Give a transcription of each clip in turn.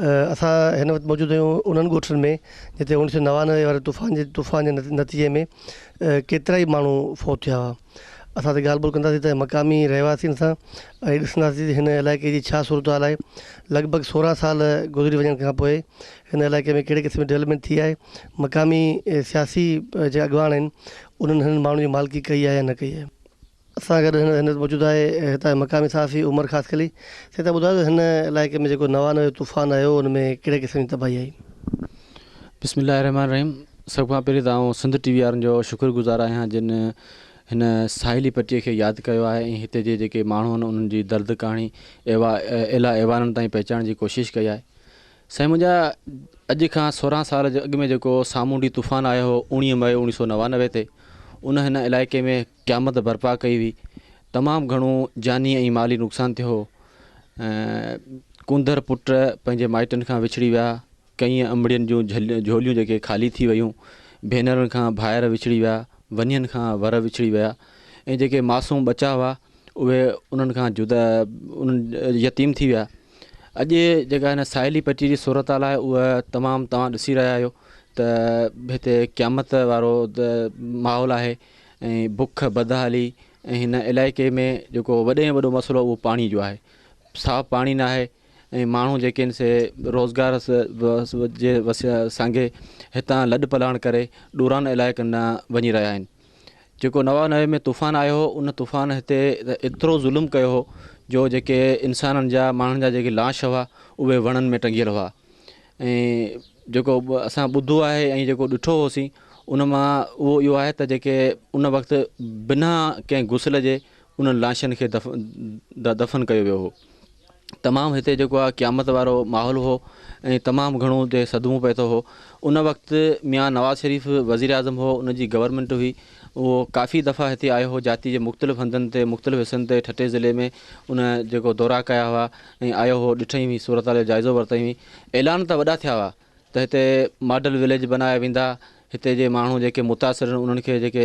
اسان هن وقت موجود آهيون انهن ڳوٺن ۾ جتي اوڻيھ سؤ نوانوي واري طوفان جي طوفان جي نتيجي ۾ ڪيترا ئي ماڻهو فوت ٿيا هئا اسان ته ڳالھ ٻولھ ڪنداسين ته مقامي رهواسين سان ۽ ڏسنداسين هن علائقي جي ڇا صورت حال آهي لڳ ڀڳ سورهن سال گذري وڃڻ کان پوء هن علائقي ۾ ڪهڙي قسم جي ڊولپمينٽ ٿي آهي مقامي سياسي جي اڳواڻ آهن انهن هنن ماڻهن جي مالڪي ڪئي آهي يا نه ڪئي آهي. سان گڏ هينئر هينئر موجود آهي هتان جو مقامي صحافي عمر خاصخيلي. سائين تان ٻڌايو ته هن علائقي ۾ جيڪو نوانو جو طوفان آيو ان ۾ ڪهڙي قسم جي تباهي آئي؟ بسم الله الرحمٰن الرحيم سڀ کان پهرين ته آئون سنڌ ٽي وي وارن جو شڪر گذار آهيان جن هن ساحلي پٽي کي ياد ڪيو آهي ۽ هتي جي جيڪي ماڻهو آهن انهن جي درد ڪهاڻي ايوا اعليٰ ايوانن تائين پهچائڻ جي ڪوشش ڪئي آهي سائين منهنجا اڄ کان سورهن سال جي اڳ ۾ جيڪو سامونڊي طوفان آيو هو اوڻيهه مئي اوڻيهه سو نوانوي تي ان هن علائقي ۾ قيامت برپا ڪئي وئي، تمام گهڻو جاني ۽ مالي نقصان ٿيو هو. ڪونڌر پٽ پنهنجي مائٽن کان وڇڙي ويا، ڪئين امڙين جون جهوليون جيڪي خالي ٿي ويون، ڀينرن کان ڀائر وڇڙي ويا، ونين کان ور وڇڙي ويا ۽ جيڪي معصوم ٻچا هئا اهي انهن کان جدا يتيم ٿي ويا. اڄ جيڪا هن ساحلي پٽي جي صورتحال آهي اهو تمام توهان ڏسي رهيا آهيو ته هتي قيامت وارو ماحول آهي. ۽ بک بدحالي ۽ هن علائقي ۾ جيڪو وڏي ۾ وڏو مسئلو اهو پاڻي جو آهي صاف پاڻي نه آهي ۽ ماڻهو جيڪي آهن سي روزگار جي سانگي هتان لڏ پلاڻ ڪري ڏورانهن علائقن ڏانهن وڃي رهيا آهن جيڪو نوانوي ۾ طوفان آيو هو ان طوفان هتي ايترو ظلم ڪيو هو جو جيڪي انسانن جا ماڻهن جا جيڪي لاش هئا اهي وڻن ۾ ٽنگيل هئا ۽ جيڪو به اسان ٻڌو آهي ۽ جيڪو ڏٺو هوسين ان مان اهو اهو آهي ته جيڪي ان وقت بنا ڪنهن غسل جي انهن لاشن کي دف دفن ڪيو ويو هو تمام هتي جيڪو آهي قيامت وارو ماحول هو ۽ تمام گهڻو هتي صدمو پئي ٿو هو ان وقت ميان نواز شريف وزير اعظم هو ان جي گورنمنٽ هئي اهو ڪافي دفعا هتي آيو هو، جاتي جي مختلف هنڌن تي مختلف حصن تي ٺٽي ضلعي ۾ ان جيڪو دورا ڪيا هئا ۽ آيو هو ڏٺائين هئي صورتحال جو جائزو ورتائين هئي اعلان ته وڏا ٿيا هئا ته هتي ماڊل وليج بنايا ويندا هتي جي ماڻهو جيڪي متاثر آهن انهن کي جيڪي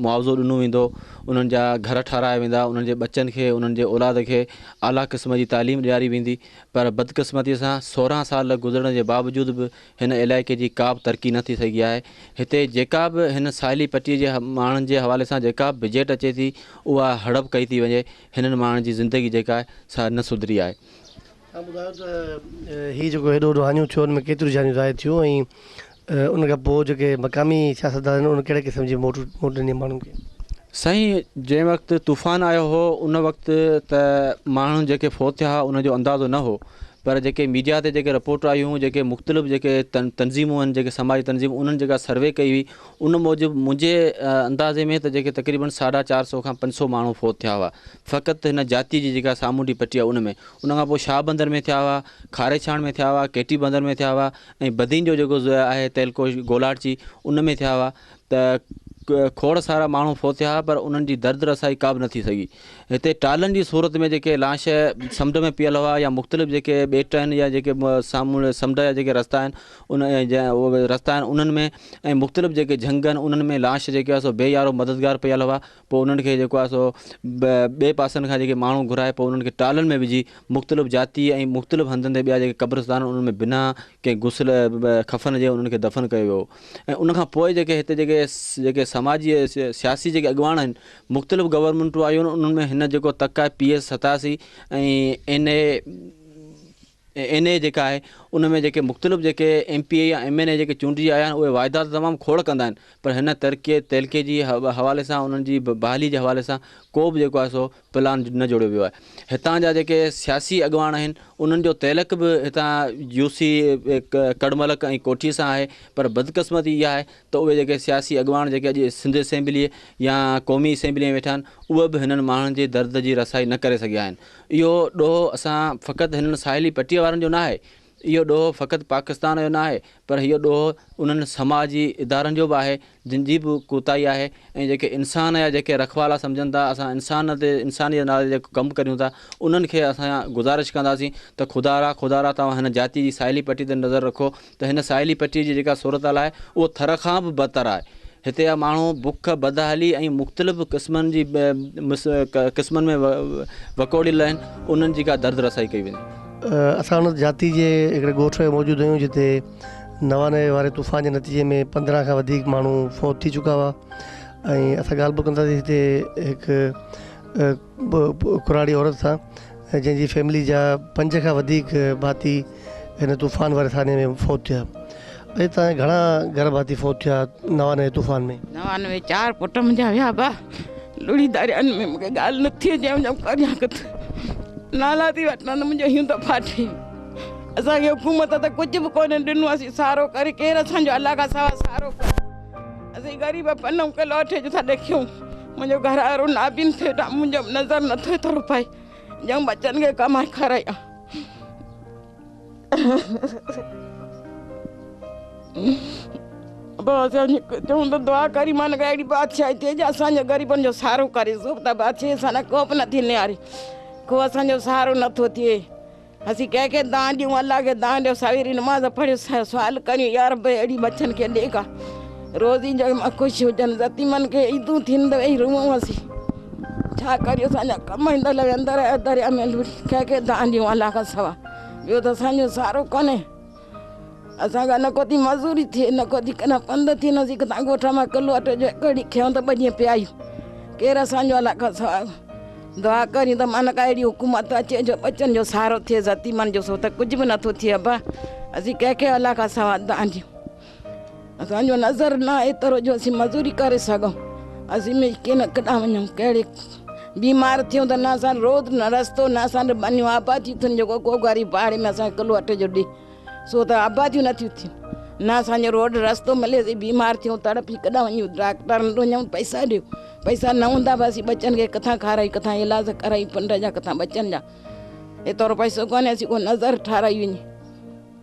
معاوضو ڏنو ويندو انهن جا گهر ٺارايا ويندا انهن جي ٻچن کي انهن جي اولاد کي اعليٰ قسم جي تعليم ڏياري ويندي پر بدقسمتي سان سورهن سال گذرڻ جي باوجود به هن علائقي جي ڪا به ترقي نه ٿي سگهي آهي. هتي جيڪا به هن ساحلي پٽي جي ماڻهن جي حوالي سان جيڪا به بجيٽ اچي ٿي اها هڙپ ڪئي ٿي وڃي. هنن ماڻهن جي زندگي جيڪا آهي سا نه سڌري آهي. اوهان ٻڌايو ته هي جيڪو هيڏو وڏو هاڃو ٿيو ان ۾ ڪيتريون جانيون ضايع ٿيون ۽ ان کان پوء جيڪي مقامي سياستدان آهن ان ڪهڙي قسم جي موٽ موٽ ڏني ماڻهن کي. سائين جنهن وقت طوفان آيو هو ان وقت ته ماڻهن جيڪي فوت ٿيا هئا ان جو اندازو نه هو پر جيڪي ميڊيا تي جيڪي رپورٽ آيون جيڪي مختلف جيڪي تنظيمون آهن جيڪي سماجي تنظيمون انهن جيڪا سروي ڪئي هئي ان موجب منهنجي اندازي ۾ ته جيڪي تقريبن ساڍا چار سو کان پنج سو ماڻهو فوت ٿيا هئا فقط هن جاتي جي جيڪا سامونڊي پٽي آهي ان ۾ ان کان پوء شاهه بندر ۾ ٿيا هئا کاري ڇاڻ ۾ ٿيا هئا ڪيٽي بندر ۾ ٿيا هئا ۽ بدين جو جيڪو آهي تهلڪو گولاٽ جي ان ۾ ٿيا هئا ته کوڙ سارا ماڻهو ڦوٿيا پر انهن جي درد رسائي ڪابه نه ٿي سگهي. هتي ٽالن جي صورت ۾ جيڪي لاش سمنڊ ۾ پيل هئا يا مختلف جيڪي ٻيٽ آهن يا جيڪي سامونڊ سمنڊ جا جيڪي رستا آهن ان رستا آهن انهن ۾ ۽ مختلف جيڪي جهنگ آهن انهن ۾ لاش جيڪي هئا سو بي يارو مددگار پيل هئا. پوء انهن کي جيڪو آهي سو ٻئي پاسن کان جيڪي ماڻهو گهرائي پوء انهن کي ٽالن ۾ وجهي مختلف جاتي ۽ مختلف هنڌن تي ٻيا جيڪي قبرستان انهن ۾ بنا ڪنهن غسل خفن جي انهن کي دفن ڪيو ويو ۽ ان کان پوء جيڪي هتي جيڪي جيڪي سماجي سياسي جيڪي اڳواڻ آهن مختلف گورنمنٽون آيون انهن ۾ هن جيڪو تڪ آهي پي ايس ستاسي ۽ اين اي اين اي جيڪا آهي ان ۾ جيڪي مختلف جيڪي ايم پي اي يا ايم اين اي جيڪي چونڊجي آيا آهن اهي وعدا ته تمام کوڙ ڪندا آهن پر هن ترقي تعلقي جي حوالي سان انهن جي بحالي جي حوالي سان ڪو به جيڪو آهي سو پلان نه جوڙيو ويو آهي هتان جا جيڪي سياسي اڳواڻ آهن انهن جو تعلق به هتان يو سي ڪڙملڪ ۽ ڪوٺي سان آهي پر بدقسمتي اها آهي ته اهي جيڪي سياسي اڳواڻ جيڪي اڄ سنڌ اسيمبلي يا قومي اسيمبلي ۾ ويٺا آهن اهي به هنن ماڻهن جي درد جي رسائي نه ڪري سگهيا آهن اهو ڏوهه اسان فقط هنن ساحلي پٽيء وارن جو ناهي، اهو ڏوهه فقط پاڪستان جو ناهي، پر اهو ڏوهه انهن سماجي ادارن جو به آهي، جن جي به ڪوتاهي آهي ۽ جيڪي انسان يا جيڪي رکوالا سمجهن ٿا، اسان انسان تي انسانيت جي نالي تي جيڪو ڪم ڪريون ٿا، انهن کي اسان گذارش ڪنداسين ته خدارا خدارا توهان هن جاتيء جي ساحلي پٽي تي نظر رکو، ته هن ساحلي پٽي جي جيڪا صورتحال آهي اهو ٿر کان به بدتر آهي، هتي جا ماڻهو بک، بدحالي ۽ مختلف قسمن جي قسمن ۾ وڪوڙيل آهن، انهن جي ڪا درد رسائي ڪئي وڃي. اسان ان جاتي جي هڪڙي ڳوٺ ۾ موجود هيون جتي نوانوي واري طوفان جي نتيجي ۾ پندرهن کان وڌيڪ ماڻهو فوت ٿي چڪا هئا ۽ اسان ڳالهه به ڪنداسين هتي هڪ ڪراڙي عورت سان ۽ جنهن جي فيملي جا پنج کان وڌيڪ ڀاتي هن طوفان واري ٿاڻي ۾ فوت ٿيا ۽ اتان جا گهڻا گهر ڀاتي فوت ٿيا نوانوي طوفان ۾. نوانوي چار پٽ منهنجا ويا با لڙهي داريان ۾ مونکي ڳالهه نه ٿي اچي منهنجا ڪريان ڪٿ نالا ٿي وٺان ته منهنجو هيون ته ڦاٽي اسان کي حڪومت ته ڪجهه به ڪونه ڏنو اسين سارو ڪري ڪير اسان جو الله کان سوا سارو ڪري اسين غريب پنهون کي لوٺي ڪٿان ڏکيون. منهنجو گهروارو نابين ٿيو ته منهنجو نظر نٿو اٿرو پئي ڄڻ ٻچن کي ڪمائي کارايان چون ته دعا ڪري مان ڪا اهڙي بادشاهي ٿئي جو اسانجو غريبن جو سهارو ڪري سو ته بادشاهي سان ڪو به نٿي نهاري ڪو اسانجو سهارو نٿو ٿئي اسين ڪنهن کي دانهن ڏيون الله کي دانهن ڏيو سويري نماز پڙهي سوال ڪريون يا رب اهڙي ٻچن کي ڏي ڪا روزي جو مان خوش هجن يتيمن کي عيدون ٿين ته ويهي روئون اسين ڇا ڪريون اسان جا ڪم اندر لڳا اندر دريا ۾ لوڙهي ڪنهن کي دانهن ڏيون الله کان سوا ٻيو ته اسان جو سهارو ڪونهي اسان کان نه ڪو ٿي مزوري ٿئي نه ڪو ٿي ڪڏهن پنڌ ٿي نه ٿي ڪٿان ڳوٺ مان ڪلو اٽو جو هڪ ڙي کيائون ته ٻه ڏينهن پيايون ڪير اسان جو الله کان سواء دعا ڪريون ته مانڪ اهڙي حڪومت اچي جو ٻچن جو سهارو ٿئي يتيمن جو سو ته ڪجهه به نٿو ٿئي ابا اسين ڪنهن کي الله کان سواء دانهيون اسان جو نظر نه ايترو جو اسين مزوري ڪري سگهون اسين مي ڪين ڪڏا وڃون ڪهڙي بيمار ٿيون ته نه اسان روز نه رستو نه اسان جو بنيو آبادي ٿين جو ڪو غريب پاڙي ۾ اسان ڪلو اٽي جو ڏي سو ته آباديون نه ٿيون ٿين نه اسان جو روڊ رستو ملي سي بيمار ٿيون تڙپي ڪڏا وڃون ڊاڪٽر وٽ وڃون پئسا ڏيو پئسا نه هوندا به اسين ٻچن کي ڪٿان کارائي ڪٿان علاج ڪرائي پنڊ جا ڪٿان ٻچن جا ايترو پئسو ڪونهي اسين ڪو نظر ٺاراهي وڃي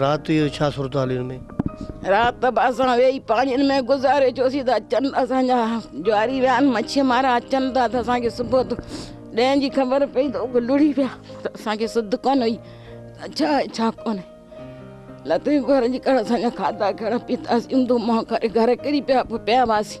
رات جو ڇا صورتحاليون ۾. رات به اسان ويهي پاڻين ۾ گذاري ڇوسين ته چنڊ اسان جا جاري ويا آهن مڇي مارا اچن ٿا ته اسان کي صبح جو ڏهين جي خبر پئي ته اهي لڙهي ويا ته اسان کي سڌ ڪونه هئي ته ڇا آهي ڇا ڪونهي لطيف گهر جي ڪاڙهه اسان جا کاڌا ڪهڙا پيتا سينڌو مئو ڪري گهر ڪري پيا پوء پيا هئاسين.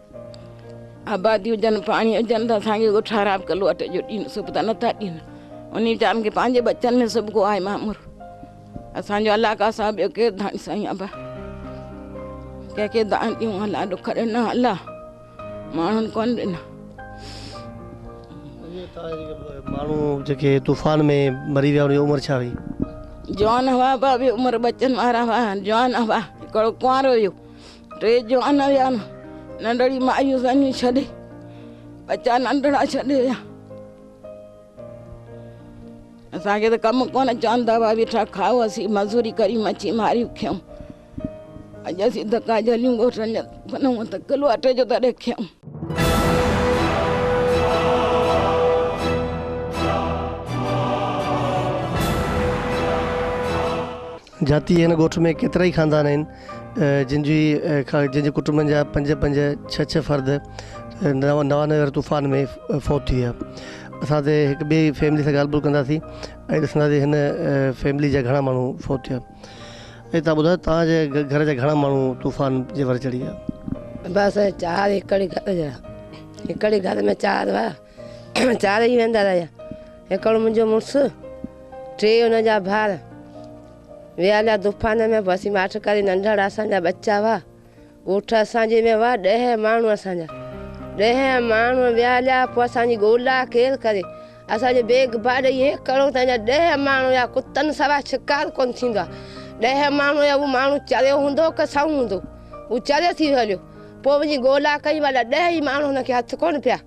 آبادي هجن پاڻي هجن ته اسان کي ٺهراء ڪلو اٽي جو ڏين سڀ ته نٿا ڏين انهي ويچارن کي پنهنجي ٻچن ۾ سڀ ڪو آهي مامر اسان جو الله کا سوا ٻيو ڪير ڌڻي سائين ابا ڪنهن کي دان ڏيون الله ڏک ڏنا الله ماڻهن ڪون ڏنا ماڻهو جيڪي طوفان ۾ مري ويا انهن جي عمر ڇا هئي جوان هوا بابي عمر بچن وارا هوا جوان هوا هڪڙو ڪنوارو هيو ٽي جوان هيا نه ننڍڙي مايون سنيون ڇڏي ٻچا ننڍڙا ڇڏي ويا اسان کي ته ڪم ڪونه چوندا هئا ويٺا کائو اسين مزوري ڪري مڇي ماري کيون اڄ اسين دڪا جليون ڳوٺن جا بنون ته ڪلو اٽي جو تڏهن کيون جاتيء هن ڳوٺ ۾ ڪيترائي خاندان آهن، جن جي جن جي ڪٽنبن جا پنج پنج ڇهه ڇهه فرد نوانوي واري طوفان ۾ فوت ٿي ويا. اسان تي هڪ ٻئي فيملي سان ڳالهه ٻولهه ڪنداسين ۽ ڏسنداسين هن فيملي جا گهڻا ماڻهو فوت ٿيا. اي تان ٻڌايو توهان جي گهر جا گهڻا ماڻهو طوفان جي ور چڙهي ويا. بس چار هڪڙي گهر جا هڪڙي گهر ۾ چار هئا. چار ئي ويندا رهيا، هڪڙو منهنجو مڙس، ٽي ان جا ڀائر، ويا هليا طوفان ۾، پوء اسين ماٺ ڪري ننڍڙا اسان جا ٻچا هئا، ڳوٺ اسان جي ۾ هئا ڏهه ماڻهو اسان جا، ڏهه ماڻهو ويا هليا، پوء اسان جي ڳولا ڪير ڪري، اسان جو بيگ باڊ هي هڪڙو ته اڃا ڏهه ماڻهو هيا، ڪتن سوا شڪار ڪونه ٿيندو آ، ڏهه ماڻهو هيا، اهو ماڻهو چريو هوندو ڪه سنئون هوندو، هو چريو ٿي ويو هليو، پوء وڃي ڳولا ڪيون، الاء ڏهه ئي ماڻهو هن کي هٿ ڪونه پيا.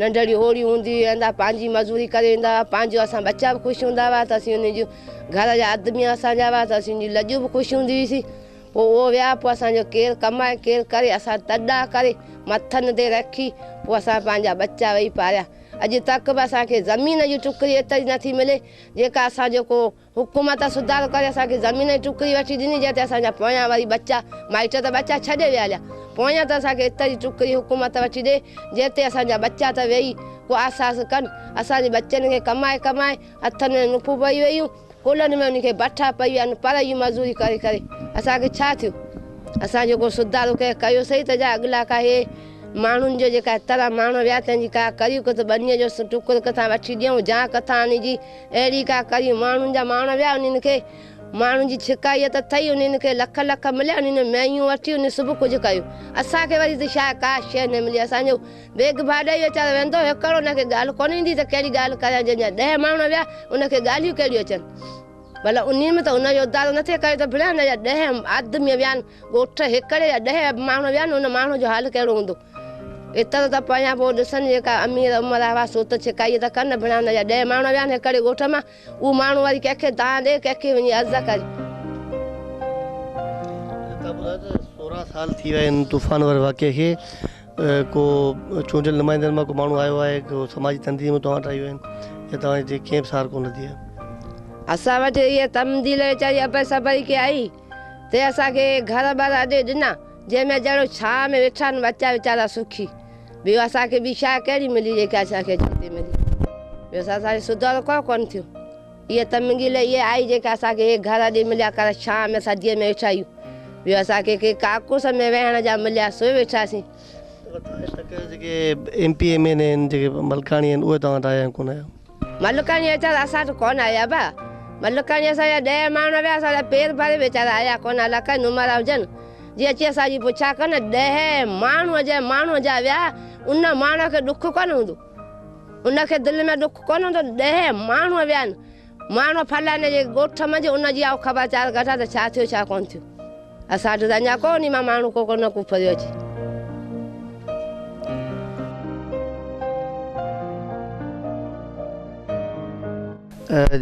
ننڍڙي اوڙي هوندي هئي اندا پنهنجي مزوري ڪري ايندا هئا پنهنجو اسان ٻچا به خوش هوندا هئا ته اسين انهن جون گهر جا آدمي اسان جا هئا ته اسين جون لڄون به خوش هوندي هئي سي پوء اهو ويا پوء اسان جو ڪير ڪمائي ڪير ڪري اسان تڏا ڪري مٿن تي رکي پوء اسان پنهنجا ٻچا ويهي پاريا اڄ تڪ به اسان کي زمين جي ٽڪري ايتري نٿي ملي جيڪا اسان جو ڪو حڪومت سڌارو ڪري اسان کي زمين جي ٽڪري وٺي ڏني جنهن تي اسان جا پويان وري ٻچا مائٽ ته ٻچا ڇڏي ويا هليا پويان ته اسان کي ايتري ٽڪري حڪومت وٺي ڏي جنهن تي اسان جا ٻچا ته ويهي ڪو آساس ڪن اسان جي ٻچن کي ڪمائي ڪمائي هٿن ۾ نڪون پئي ويون ڪلهن ۾ انهن کي بٺا پئي ويا آهن پر اهي مزوري ڪري ڪري اسان کي ڇا ٿيو اسان جو ڪو سڌارو ڪنهن ڪيو سهي ته جا اڳلا ڪا اهي ماڻهن جو جيڪا طرح ماڻهو ويا تنهن جي ڪا ڪريون ڪٿ ٻنيء جو ٽڪر ڪٿان وٺي ڏيون جا ڪٿان آڻي جي اهڙي ڪا ڪري ماڻهن جا ماڻ ويا انهن کي ماڻهن جي ڇڪائيت ٿئي انهن کي لک لک مليا انهن مينهيون وٺيون انهن سڀ ڪجهه ڪيو اسان کي وري ته شايد ڪا شيء نه ملي اسان جو بيگ ڀاڏئي ويچارو ويندو هڪڙو ان کي ڳالهه ڪونه ايندي ته ڪهڙي ڳالهه ڪريان جنهن جا ڏهه ماڻ ويا ان کي ڳالهيون ڪهڙيون اچن ڀلا انهن ۾ ته ان جو ادارو نه ٿئي ڪيو ته ڀڻيا ان جا ڏهه آدمي ويا آهن ڳوٺ هڪڙي جا ڏهه ماڻهو ويا آهن ان ماڻهن جو حال ڪهڙو هوندو. ايترو ته پويان پوء ڏسن جيڪا امير عمر هوا سوت ڇڪائي ته ڪن ڀڻا نه جا ڏهه ماڻهو ويا آهن هڪڙي ڳوٺ مان اهو ماڻهو وري ڪنهن کي دانهن ڏي ڪنهن کي وڃي عرض ڪري. لتا ٻڌايو ته سورهن سال ٿي ويا آهن طوفان واري واقعي کي ڪو چونڊيل نمائندن مان ڪو ماڻهو آيو آهي ڪو سماجي تنظيمون توهان وٽ آيون آهن يا توهان جي ڪنهن به سار ڪونه ٿي آهي. اسان وٽ اهي تمديل ويچاري ابر صبر ئي ڪي آئي تنهن اسان کي گهر ٻار اڏي ڏنا. جنهن ۾ ڄڻ ڇانء ۾ ويٺا آهن ٻچا ويچارا سکي. ٻيو اسان کي ٻي شاهه ڪهڙي ملي جيڪا اسان کي اڄ اتي ملي. ٻيو اسان سان اهڙي سڌارو ڪو ڪونه ٿيو. اهي تمنگيل اهي آهي جيڪا اسان کي اهي گهر اڄ مليا ڪر ڇانء ۾ سرديء ۾ ويٺا آهيون. ٻيو اسان کي ڪي ڪاڪوس ۾ ويهڻ جا مليا سوئي ويٺاسين. M P M N A آهن جيڪي ملڪاڻي آهن اهي توهان وٽ آيا آهن ڪونه آيا. ملڪاڻي اچر اسان وٽ ڪونه آيا ابا ملڪاڻي اسان جا ڏهه ماڻهو ويا اسان جا پير ڀري ويچارا آيا ڪونه الا ڪئين نمرا هجن جي اچي اسان جي پڇا ڪن ڏهه ماڻهو جنهن ماڻهو جا ويا ان ماڻهو کي ڏک ڪونه هوندو ان کي دل ۾ ڏک ڪونه هوندو ڏهه ماڻهو ويا آهن ماڻهو فلاني جي ڳوٺ منجهه ان جي آئون خبر چار ڪڍان ته ڇا ٿيو ڇا ڪونه ٿيو. اسان وٽ ته اڃا ڪو ني مان ماڻهو ڪو ڪو نه ڪو ڦريو اچي.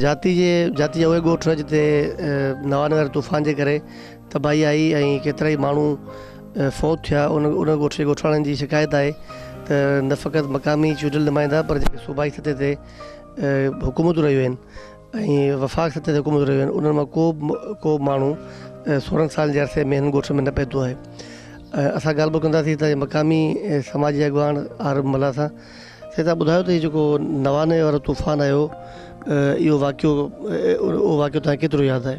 جاتي جي جاتي جا اهي ڳوٺ جتي نوانگر طوفان جي ڪري تباهي آئي ۽ ڪيترائي ماڻهو فوت ٿيا ان ان ڳوٺ جي ڳوٺاڻن جي شڪايت آهي ته نه فقط مقامي چونڊيل نمائندا پر جيڪي صوبائي سطح تي حڪومتون رهيون آهن ۽ وفاق سطح تي حڪومتون رهيون آهن انهن مان ڪو ڪو ماڻهو سورهن سالن جي عرصي ۾ هن ڳوٺ ۾ نه پهتو آهي ۽ اسان ڳالهه ٻولهه ڪنداسين هتان جي مقامي سماجي اڳواڻ عارب ملاح سان سي تان ٻڌايو ته هي جيڪو نوانوي وارو طوفان آيو اهو واقعو اهو واقعو تنهنکي ڪيترو ياد آهي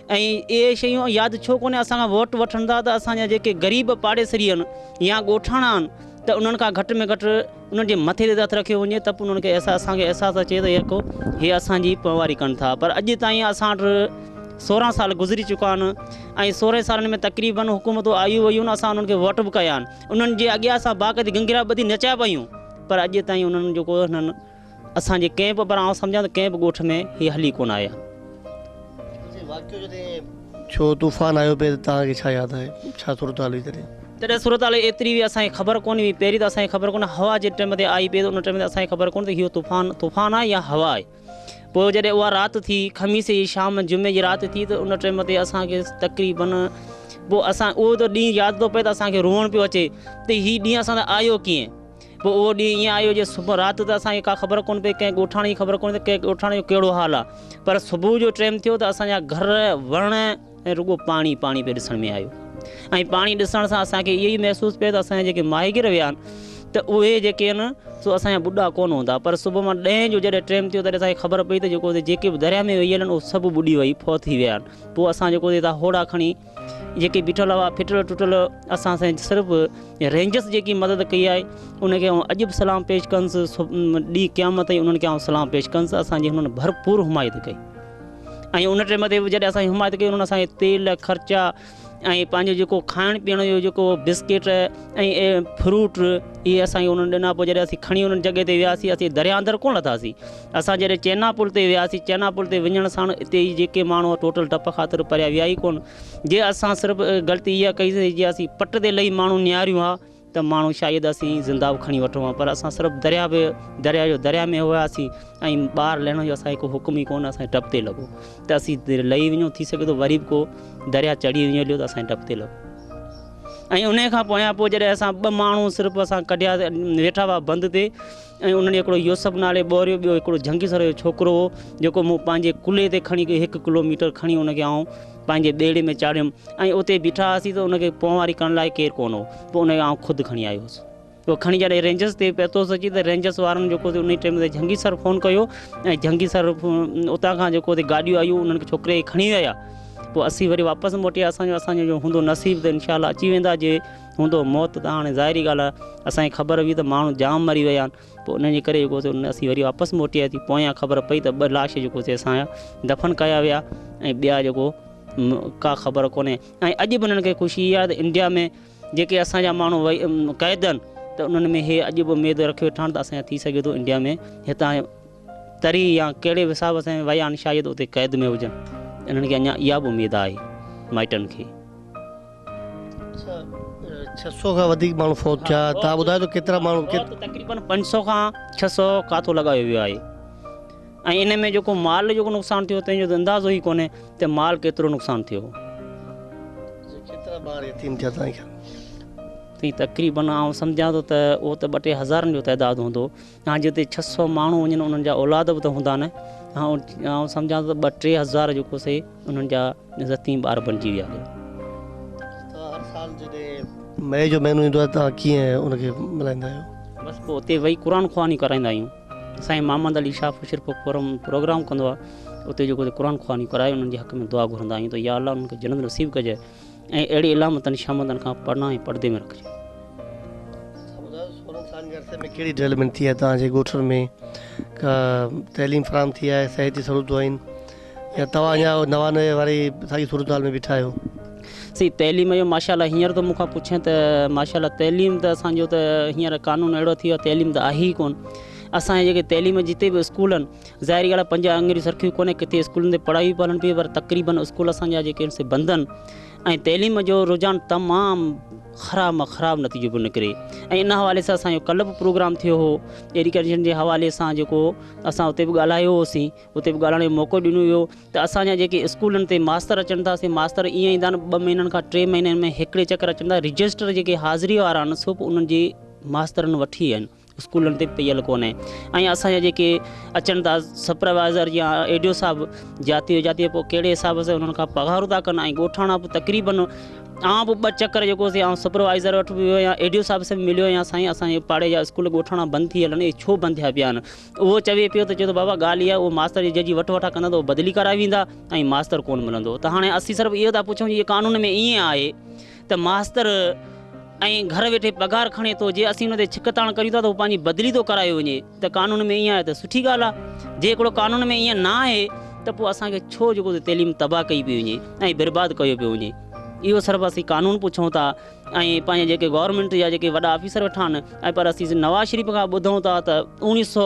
۽ اهي شيون ياد ڇو ڪونهي اسان کان ووٽ وٺن ٿا ته اسان جا جيڪي غريب پاڙيسري آهن يا ڳوٺاڻا آهن ته انهن کان گهٽ ۾ گهٽ انهن جي مٿي تي ته هٿ رکيو وڃي ته به انهن کي احساس اسان کي احساس اچي ته يڪو هي اسان جي پوئواري ڪن ٿا پر اڄ تائين اسان وٽ سورهن سال گذري چڪا آهن ۽ سورهن سالن ۾ تقريبن حڪومتون آيون ويون آهن اسان انهن کي ووٽ به ڪيا آهن انهن جي اڳيان اسان باقاعدي گنگرا ٻڌي نچيا به آهيون پر اڄ تائين انهن جيڪو هنن اسان جي ڪنهن به پر آئون سمجهان ته ڪنهن به ڳوٺ ۾ هي هلي ڪونه آئي آهي. جي واقعو جڏهن ڇو طوفان آيو پئي ته توهان کي ڇا ياد آهي ڇا صورتحال هئي تڏهن؟ تڏهن صورتحال ايتري هئي اسان کي خبر ڪونه هئي پهرين ته اسان کي خبر ڪونه هوا جي ٽيم تي آئي پئي ته ان ٽيم تي اسان کي خبر ڪونه ته هيو طوفان طوفان آهي يا هوا آهي پوء جڏهن اها رات ٿي خميس جي شام جمعي جي رات ٿي ته ان ٽيم تي اسان کي تقريبن پوء اسان اهو ته ڏينهن ياد ٿو پئي ته اسان کي روئڻ پيو اچي ته هي ڏينهن اسان تي آيو ڪيئن؟ پوء اهو ڏينهن ائين آيو جو صبح رات ته اسان کي ڪا خبر ڪونه پئي، ڪنهن ڳوٺاڻي جي خبر ڪونه ته ڪنهن ڳوٺاڻي جو ڪهڙو حال آ، پر صبح جو ٽيم ٿيو ته اسان جا گهر، وڻ ۽ رڳو پاڻي پاڻي پئي ڏسڻ ۾ آيو ۽ پاڻي ڏسڻ سان اسان کي اهو ئي محسوس پئي ته اسان جا جيڪي ماهيگير ويا آهن ته اهي جيڪي آهن سو اسان جا ٻڏا ڪونه هوندا، پر صبح مان ڏهين جو جڏهن ٽيم ٿيو تڏهن اسان کي خبر پئي ته جيڪو جيڪي به درياهه ۾ ويل آهن اهي سڀ ٻڏي وئي فوت ٿي ويا آهن، پوء اسان جيڪو هوڙا کڻي. جيڪي بيٺل هئا ڦٽل ٽٽل اسان سائين صرف رينجرس جيڪي مدد ڪئي آهي ان کي آئون اڄ به سلام پيش ڪنس ڏينهن قيامت تائين انهن کي آئون سلام پيش ڪنس اسان جي هنن ڀرپور حمايت ڪئي ۽ ان ٽيم تي جڏهن اسان حمايت ڪئي انهن اسان کي تيل خرچا ۽ پنهنجو جيڪو کائڻ پيئڻ جو جيڪو بسڪيٽ ۽ فروٽ اهي اسان کي انهن ڏنا پوء جڏهن اسين کڻي انهن جڳهه تي وياسين اسين دريا اندر ڪونه لٿاسين اسان جڏهن چينا پل تي وياسين، چينا پل تي وڃڻ ساڻ اتي جي جيڪي ماڻهو هئا ٽوٽل ڊپ خاطر پريا ويا ئي ڪونه. جي اسان صرف غلطي اها ڪئي سي جي اسين پٽ تي لهي ماڻهو نهاريون ها ته ماڻهو شايد اسين زنده به کڻي وٺون ها پر اسان صرف درياء به درياء جو درياء ۾ هياسين ۽ ٻاهر لهڻ جو اسان کي ڪو حڪم ئي ڪونه اسان ڊپ تي لڳو ته اسين لهي وڃون ٿي سگهي ٿو وري به ڪو درياء چڙهي وڃي هليو ته اسان ڊپ تي لڳو ۽ ان کان پويان پوء جڏهن اسان ٻه ماڻهو صرف اسان ڪڍيا ويٺا هئا بند تي ۽ انهن هڪڙو يوسف نالي ٻوريو ٻيو هڪڙو جهنگي سر جو ڇوڪرو هو جيڪو مون پنهنجي ڪلهي تي کڻي هڪ ڪلو ميٽر کڻي ان کي آئون پنهنجي ٻيڙي ۾ چاڙهيم ۽ اتي بيٺا هئاسين ته ان کي پونواري ڪرڻ لاء ڪير ڪونه هو پوء ان کي آئون خود کڻي آيو هوس پوء کڻي جڏهن رينجرس تي پهتوس اچي ته رينجرس وارن جيڪو ان ٽيم تي جهنگي سر فون ڪيو ۽ جهنگي سر اتان کان جيڪو گاڏيون آيون انهن کي ڇوڪري کي کڻي ويا پوء اسين وري واپس موٽي اسان جو اسان جو هوندو نصيب ته انشاء الله اچي ويندا جي هوندو موت ته هاڻي ظاهري ڳالهه آهي اسان کي خبر هئي ته ماڻهو جام مري ويا آهن پوء ان جي ڪري جيڪو سو اسين وري واپس موٽي آياسين پويان خبر پئي ته ٻه لاش جيڪو سي اسان جا دفن ڪيا ويا ۽ ٻيا جيڪو ڪا خبر ڪونهي ۽ اڄ به انهن کي خوشي اها ته انڊيا ۾ جيڪي اسان جا ماڻهو وئي قيد آهن ته انهن ۾ هي اڄ به اميد رکي ويٺا آهن ته اسان ٿي سگهي ٿو انڊيا ۾ هتان تري يا ڪهڙي حساب سان ويا آهن شايد اتي قيد ۾ هجن انهن کي اڃان اها به اميد آهي مائٽن کي. اچا ڇهه سؤ کان وڌيڪ ماڻهو فوت ٿيا توهان ٻڌايو ته ڪيترا ماڻهو ڪيت. فوت تقريبن پنج سؤ کان ڇهه سؤ کاتو لڳايو ويو آهي ۽ ان ۾ جيڪو مال جيڪو نقصان ٿيو تنهن جو ته اندازو ئي ڪونهي ته مال ڪيترو نقصان ٿيو هو. اچا ڪيترا ٻار يتيم ٿيا توهان جي خيال ۾. تقريبن آئون سمجهان ٿو ته اهو ته ٻه ٽي هزارن جو تعداد هوندو. ها جي اتي ڇهه سؤ ماڻهو وڃن انهن جا اولاد به ته هوندا نه آئون سمجهان ٿو ته ٻه ٽي هزار جيڪو سي انهن جا عزتين ٻار بڻجي ويا هي هر سال جڏهن مئي جو مهينو ايندو آهي ته ڪيئن ان کي ملهائيندا آهيو بس پوء اتي ويهي قرآن خواني ڪرائيندا آهيون سائين محمد علي شاهه فشر پوء فورم پروگرام ڪندو آهي اتي جيڪو قرآن خواني ڪرائي انهن جي حق ۾ دعا گهرندا آهيون ته يا الله انهن کي جنت نصيب ڪجي ۽ اهڙي علامتن شامتن کان پناهه ۽ پڙدي ۾ رکجي. ٻڌايو سورن سالن جي عرصي ۾ ڪهڙي ڊولپمينٽ ٿي آهي توهان جي ڳوٺن ۾ ڪا تعليم فراهم ٿي آهي صحت جي سهولتون آهن يا توهان اڃا نوان نوي واري ساڳي صورتحال ۾ بيٺا آهيو. سائين تعليم جو ماشاء الله هينئر تو مون کان پڇين ته ماشاء الله تعليم ته اسان جو ته هينئر قانون اهڙو ٿي ويو تعليم ته آهي ئي ڪون اسان جي جيڪي تعليم جتي به اسڪول آهن ظاهر ڳالهه آهي پنج آڱريون سرخيون ڪونهن ڪٿي اسڪولن تي پڙهائي به پالڻ پئي پر تقريبن اسڪول اسان جا جيڪي آهن سي بند آهن ۽ تعليم جو رجحان تمام خراب مان خراب نتيجو پيو نڪري ۽ ان حوالي سان اسان جو ڪلهه به پروگرام ٿيو هو ايڊيوڪيشن جي حوالي سان جيڪو اسان اتي به ڳالهايو هوسين اتي به ڳالهائڻ جو موقعو ڏنو ويو ته اسان جا جيڪي اسڪولن تي ماستر اچن ٿا سي ماستر ائين ايندا آهن ٻه مهينن کان ٽي مهينن ۾ هڪڙي چڪر اچن ٿا رجسٽر جيڪي حاضري وارا آهن سو به انهن جي ماسترن وٺي ويا آهن اسڪولن تي پيل ڪونهي ۽ اسان جا جيڪي اچن ٿا سپروائزر يا ايڊيو صاحب جاتي هو جاتي پوء ڪهڙي حساب سان انهن کان پگهارون ٿا ڪن ۽ ڳوٺاڻا به تقريبن آئون به ٻه چڪر جيڪو سي آئون سپروائزر وٽ به ويو يا ايڊيو صاحب سان مليو يا سائين اسانجي پاڙي جا اسڪول ڳوٺاڻا بند ٿي هلن اهي ڇو بند ٿيا پيا آهن اهو چوي پيو ته چوي ٿو بابا ڳالهه اها اهو ماستر جي جنهنجي وٺ وٺا ڪندا ته اهو بدلي ڪرائي ويندا ۽ ماستر ڪون ملندو ته هاڻي اسين صرف اهو ٿا پڇون جي قانون ۾ ائين آهي ته ماستر ائين گهر ويٺي پگهار کڻي ٿو جي اسين ان تي ڇڪ تاڻ ڪريون ٿا ته هو پنهنجي بدلي ٿو ڪرايو وڃي ته قانون ۾ ائين آهي ته سٺي ڳالهه آهي جي هڪڙو قانون ۾ ائين نه آهي ته پوء اسان کي ڇو جيڪو تعليم تباهه ڪئي پئي وڃي ۽ برباد ڪيو پيو وڃي اهو صرف اسين قانون پڇون ٿا ۽ پنهنجي جيڪي گورنمينٽ جا جيڪي وڏا آفيسر ويٺا آهن ۽ پر اسين نواز شريف کان ٻڌون ٿا ته اوڻيهه سو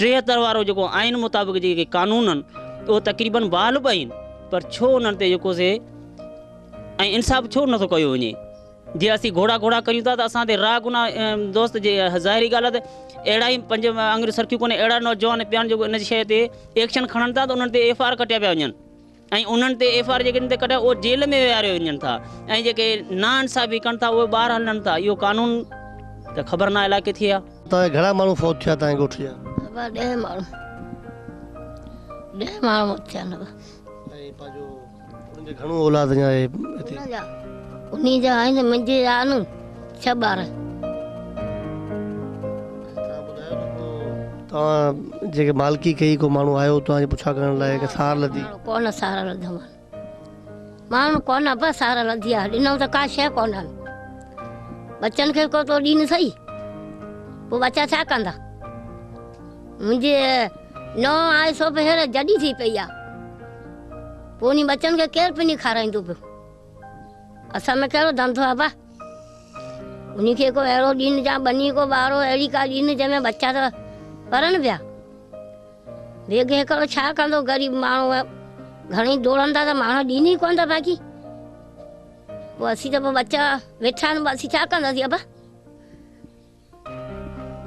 ٽيهتر وارو جيڪو آئين مطابق جيڪي قانون آهن اهو تقريبن بحال به آهن پر ڇو انهن تي جيڪو سي ۽ انصاف ڇو نٿو ڪيو وڃي؟ جي اسين گهوڙا گهوڙا ڪريون ٿا ته اسان تي راء گناء دوست جي ظاهري ڳالهه آهي ته اهڙا ئي پنج آڱريون سرخيون ڪونهي اهڙا نوجوان پيا آهن جيڪو ان شيء تي ايڪشن کڻن ٿا ته انهن تي ايف آر ڪٽيا پيا وڃن ۽ انهن تي ايف آر جيڪن تي ڪٽيا اهي جيل ۾ ويهاريو وڃن ٿا ۽ جيڪي نا انصافي ڪن ٿا اهي ٻاهر هلن ٿا اهو قانون ته خبر ناهي الاء ڪٿي آهي. اتان جا گهڻا ماڻهو فوت ٿيا تنهنجي ڳوٺ جا؟ ابا ڏهه ماڻهو ڏهه ماڻهو موت ٿيا آهن ابا. ۽ پنهنجو انهن جي گهڻو اولاد اڃا آهي هتي. انهن جا آهن منهنجي آهن ڇهه ٻار. توهان ٻڌايو ته ڪو توهان جنهن کي مالڪي ڪئي ڪو ماڻهو آيو توهان جي پڇا ڪرڻ لاء ڪنهن سار لڌي؟ ماڻهو ڪونه سار لڌو مان. ماڻهو ڪونه ابا سار لڌي آهي ڏنو ته ڪا شيء ڪونه آهن. ٻچن کي ڪو تو ڏين سهي. پوء ٻچا ڇا ڪندا. منهنجي نونهن آهي سو به هينئر جڏي ٿي پئي آهي. پوء انهي ٻچن کي ڪير پني کارائيندو پيو؟ اسان ۾ ڪهڙو ڌنڌو آهي ڀا؟ انهي کي ڪو اهڙو ڏين جا ٻني ڪو ٻارو اهڙي ڪا ڏين جنهن ۾ ٻچا ته پرن پيا. بيگ هيڪڙو ڇا ڪندو غريب ماڻهو گهڻي ڊوڙندا ته ماڻهو ڏين ئي ڪونه ٿا باقي پوء اسين ته پوء ٻچا ويٺا آهن پوء اسين ڇا ڪنداسين ابا؟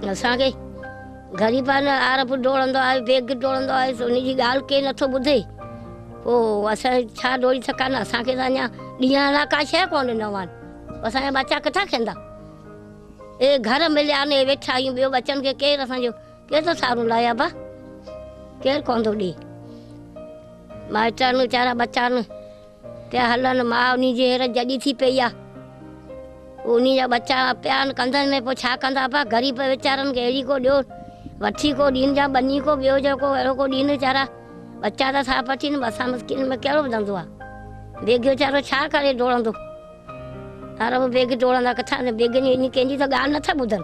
اسان کي غريبانه آر به ڊوڙندو آيو بيگ ڊوڙندو آيو سو ان جي ڳالهه ڪير نٿو ٻڌي پو اسان ڇا ڊوڙي سکان اسان کي اڃا ڏينهن لا ڪا شي ڪون ڏنو آن اسان جا بچا ڪٿا کيندا اي گهر مليا نه ويٺا آيون ٻيو بچن کي ڪير اسان جو ڪير ٿو سارو لايا با ڪير ڪون ٿو ڏي مائٽا نو چارا بچا نه تي هلن ماء انهي جي هير جڄي ٿي پئي آ پوء انهي جا ٻچا پيا آهن ڪنڌن ۾ پوء ڇا ڪندا ابا غريب ويچارن کي اهڙي ڪو ڏيو وٺي ڪو ڏين جا ٻني ڪو ٻيو جو ڪو اهڙو ڪو ڏين ويچارا ٻچا ته ٿا پچين اسان مسڪين ۾ ڪهڙو ڌنڌو آ بيگهي ويچارو ڇا ڪري ڊوڙندو عرب بيگهي ڊوڙندا ڪٿان بيگهين جي ڪنهن جي ته ڳالهه نه ٿا ٻڌن.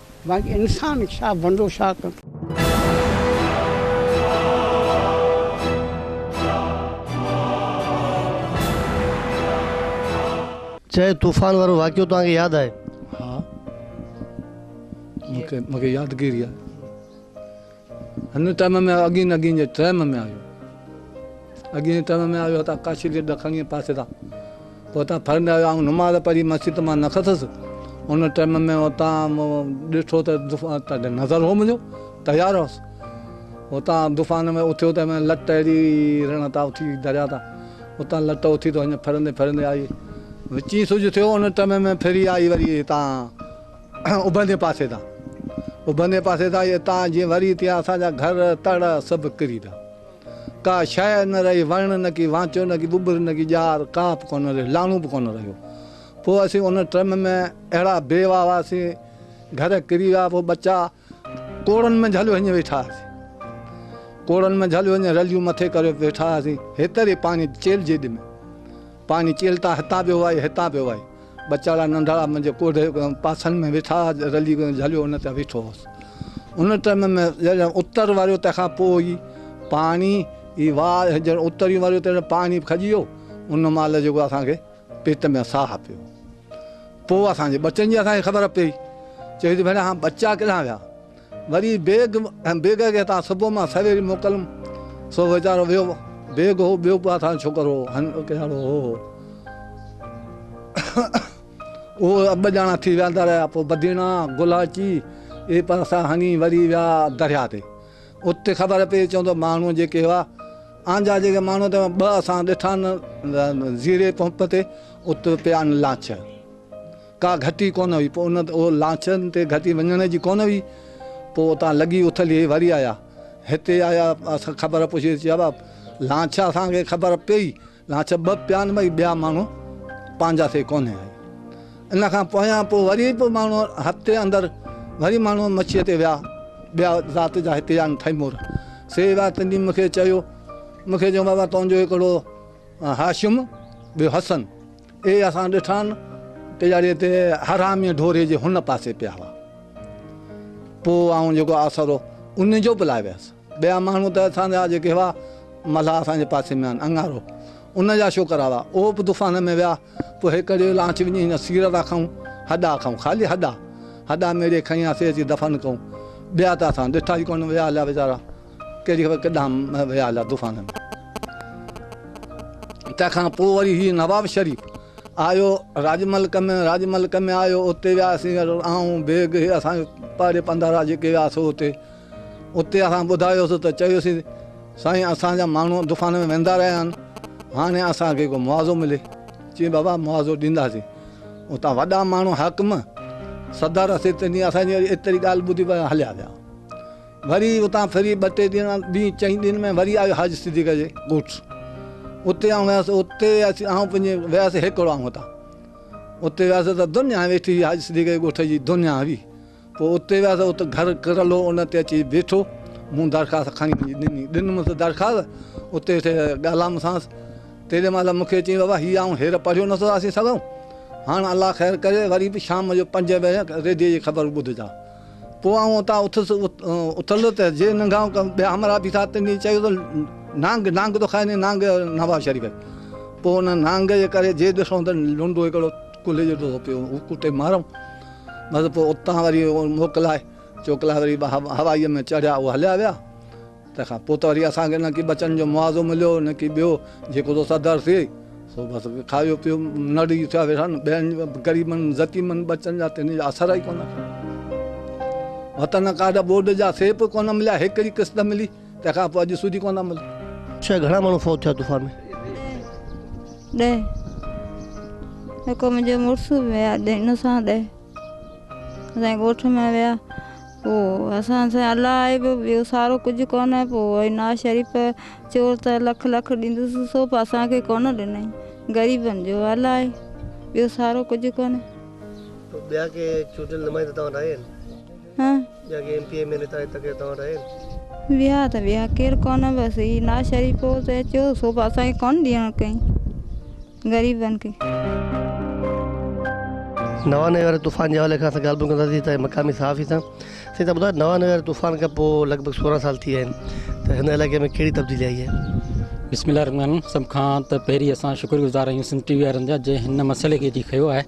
باقي انسان ڇا بندو ڇا ڪندو. چيو طوفان وارو واقعو توهان کي ياد آهي؟ ها مونکي يادگيري آهي. هن ٽائيم ۾ اڳين اڳين جي ٽائيم ۾ آيو اڳين جي ٽائيم ۾ آيو هتان ڪاشي جي ڏکڻيء پاسي تان پوء هتان ڦرندي آيو آئون نماز پڙهي مسجد مان نڪتس ان ٽائيم ۾ هتان ڏٺو ته تڏهن نظر هو منهنجو تيار هوس هتان دفان ۾ اٿيو ته ۾ لٽ اهڙي رڻ تان اٿي دريا تان هتان لٽ اٿي ته هن ڦرندي ڦرندي آئي وچين سج ٿيو ان ٽائيم ۾ ڦري آئي وري هتان اڀرندي پاسي تان اڀرندي پاسي تان يا تان جي وري تيان اسان جا گهر تڙ سڀ ڪري ويا ڪا شيء نه رهي وڻ نه ڪي وانچو نه ڪي ٻٻر نه ڪي ڄار ڪا به ڪونه رهي لاڻو به ڪونه رهيو پوء اسين ان ٽرم ۾ اهڙا بي واهه هئاسين گهر ڪري ويا پوء ٻچا ڪوڙن منجھ هليو هڃ ويٺا هئاسين ڪوڙن منجھ هليو هڃ رليون مٿي ڪري ويٺا هئاسين هيتري پاڻي چيل جي ڏمي پاڻي چيل تان هتان پيو وهي هتان پيو وهي ٻچاڙا ننڍڙا منجھ ڪوڙهي پاسن ۾ ويٺا هئا رلي منجھ هليو ان تي ويٺو هوس ان ٽائيم ۾ جڏهن اتر واريو تنهن کان پوء ئي پاڻي ئي واء جڏهن اتريون واريو تڏهن پاڻي کڄي ويو ان مهل جيڪو اسان کي پيٽ ۾ ساهه پيو. پوء اسان جي ٻچن جي اسان کي خبر پيئي. چيو ته ڀيڻ اهان ٻچا ڪيڏانهن ويا؟ وري بيگ ۽ بيگ کي هتان صبح مان سويري موڪليم. سو ويچارو ويو. بيگ هو ٻيو به اسان جو ڇوڪرو هو هن ڪهڙو هو هو. اهو ٻه ڄڻا ٿي وياندا رهيا. پوء بديڻا، گلهاچي اهي پاسا هنڱي وري ويا درياء تي. اتي خبر پيئي چون ته ماڻهو جيڪي هئا آن جا جيڪي ماڻهو ته ٻه اسان ڏٺا نه زيري پمپ تي اتي پيا آن لانچ ڪا گهٽي ڪونه هئي پوء ان او لانچن تي گهٽي وڃڻ جي ڪونه هئي پوء اتان لڳي اٿلي وري آيا هتي آيا اسان خبر پڇي چيا لانچ اسان کي خبر پيئي لاچ ٻه پيان ٻئي ٻيا ماڻهو پنهنجا سي ڪونهي آهي ان کان پويان پوء وري به ماڻهو هفتي اندر وري ماڻهو مڇيء تي ويا ٻيا ذات جا هتي آهن ٿئيمور سي ويا تني مون کي چيو مون کي چيو بابا تنهنجو هڪڙو هاشم ٻيو حسن اهي اسان ڏٺان پياڙي تي حرامي ڍوري جي هن پاسي پيا هئا پوء آئون جيڪو آسرو ان جو به لاء ويس ٻيا ماڻهو ته اسان جا جيڪي هئا، ملاح اسان جي پاسي ۾ آهن، اڱارو، ان جا شوڪرا هئا، اهو به طوفان ۾ ويا، پوء هيڪ ڙيء لانچ وڃي هن سير ٿا کائون، هڏا کائون، خالي هڏا، هڏا ميڙي کڻي آياسين اچي دفن ڪئون، ٻيا ته اسان ڏٺا ئي ڪونه، ويا هليا ويچارا، ڪهڙي خبر ڪيڏانهن ويا هليا طوفان ۾. تنهن کان پوء وري هي نواب شريف آيو راڄ ملڪ ۾، راڄ ملڪ ۾ آيو، اتي وياسين، آئون، بيگ، هي اسان جي پاڙي پنڌارا جيڪي ويا سو اتي. اتي اسان ٻڌايوسين ته چيوسين ته سائين اسان جا ماڻهو دفان ۾ ويندا رهيا آهن هاڻي اسان کي ڪو معاوضو ملي. چيائين بابا معاوضو ڏينداسين. اتان وڏا ماڻهو حاڪم، صدر، سيتني اسان جي وري ايتري ڳالهه ٻڌي پويان هليا ويا. وري اتان ڦري ٻه ٽي ڏينهن ڏينهن چئين ڏينهن ۾ وري آيو حاجي صديق جي ڳوٺ. اتي آئون ويس اتي اچي آئون پنهنجي ويس هيڪڙو آئون اتان. اتي ويس ته دنيا ويٺي هئي حاجي صديق جي ڳوٺ جي دنيا هئي. پوء اتي ويس، ات گهر ڪرل هو، ان تي اچي بيٺو، مون درخواست کڻي وڃي ڏني، ڏنمس درخواست، اتي ويٺي ڳالهامسانس، تيڏي مهل مون کي چيائين، بابا هي آئون هير پڙهيو نه ٿو آسي سگهان، هاڻ الله خير ڪري، وري به شام جو پنجين بجي ريڊيو جي خبر ٻڌجان. پوء آئون اتان اٿس، اٿندو ته جي ننگهائون ڪم، ٻيا همراهه بيٺا، تنهن چيو ته نانگ، نانگ ٿو کائي، نانگ نواز شريف، پوء ان نانگ جي ڪري جي ڏسون ته لنڊو هڪڙو ڪلهي جو ٽوڙو پيو هو ڪٽي مارئون بس پوء اتان وري موڪلائي چوڪلائي وري هوائيء ۾ چڙهيا اهو هليا ويا تنهن کان پوء ته وري اسان کي نه ڪي ٻچن جو معاوضو مليو نه ڪي ٻيو جيڪو سو صدر ٿئي سو بس کايو پيو نڙي ٿيا ويٺا نه ٻين غريبن ضتيمن ٻچن جا تن جا اثر ئي ڪونه وطن ڪاڊ ٻوڏ جا سيب ڪونه مليا هڪڙي قسط ملي تنهن کان پوء اڄ سوڌي ڪونه عمل. ڇهه گهڻا ماڻهو فوت ٿيا طوفان ۾؟ ڏهه جيڪو منهنجو مڙس به ويا ان سان ڏهه اسان ڳوٺ ۾ ويا پوء اسان سان الله آهي به ٻيو سارو ڪجهه ڪونه پوء وئي نواز شريف چور ته لک لک ڏيندس سو به اسان کي ڪونه ڏنائين غريبن جو الله آهي ٻيو سارو ڪجهه ڪونه. ٻيا ڪي چونڊيل نمائندا توهان لاء آهن؟ ويا ته ويا ڪير ڪونه بس هي ناشريفو ته اچيو سوڀا اسان کي ڪونه ڏيڻ ڪئين غريبن کي. نوان نوي واري طوفان جي حوالي کان اسان ڳالهه ٻولهه ڪنداسين هتان جي مقامي صحافي سان. سائين تان ٻڌايو نوان نوي واري طوفان کان پوء لڳ ڀڳ سورهن سال ٿي ويا آهن ته هن علائقي ۾ ڪهڙي تبديلي آئي آهي؟ بسم الله الرحمٰن الرحيم سڀ کان ته پهرين اسان شڪر گذار آهيون سنڌ ٽي وي وارن جا جنهن هن مسئلي کي اچي کنيو آهي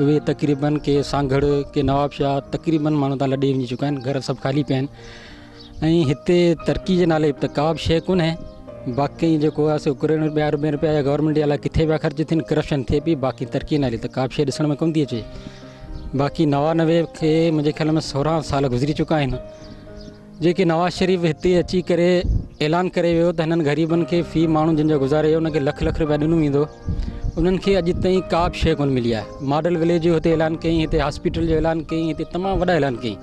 اهي تقريبن ڪي سانگهڙ ڪي نوابشاهه تقريبن ماڻهو تان لڏي وڃي چڪا آهن گهر سڀ خالي پيا آهن ۽ هتي ترقي جي نالي ته ڪا به شيء ڪونهي باقي جيڪو آهي سو ڪروڙين رپيا اربين رپيا يا گورنمنٽ جي الاء ڪٿي پيا خرچ ٿين ڪرپشن ٿئي پئي باقي ترقي نالي ته ڪا به شيء ڏسڻ ۾ ڪونه ٿي اچي باقي نوانوي کي منهنجي خيال ۾ سورهن سال گذري چڪا آهن جيڪي نواز شريف هتي اچي ڪري اعلان ڪري ويو ته هنن غريبن کي في ماڻهو جن جو گذارو هي ان کي لک لک رپيا ڏنو ويندو انهن کي اڄ تائين ڪا به شيء ڪونه ملي آهي ماڊل وليج جو هتي اعلان ڪيائين هتي هاسپيٽل جو اعلان ڪيائين هتي تمام وڏا اعلان ڪيائين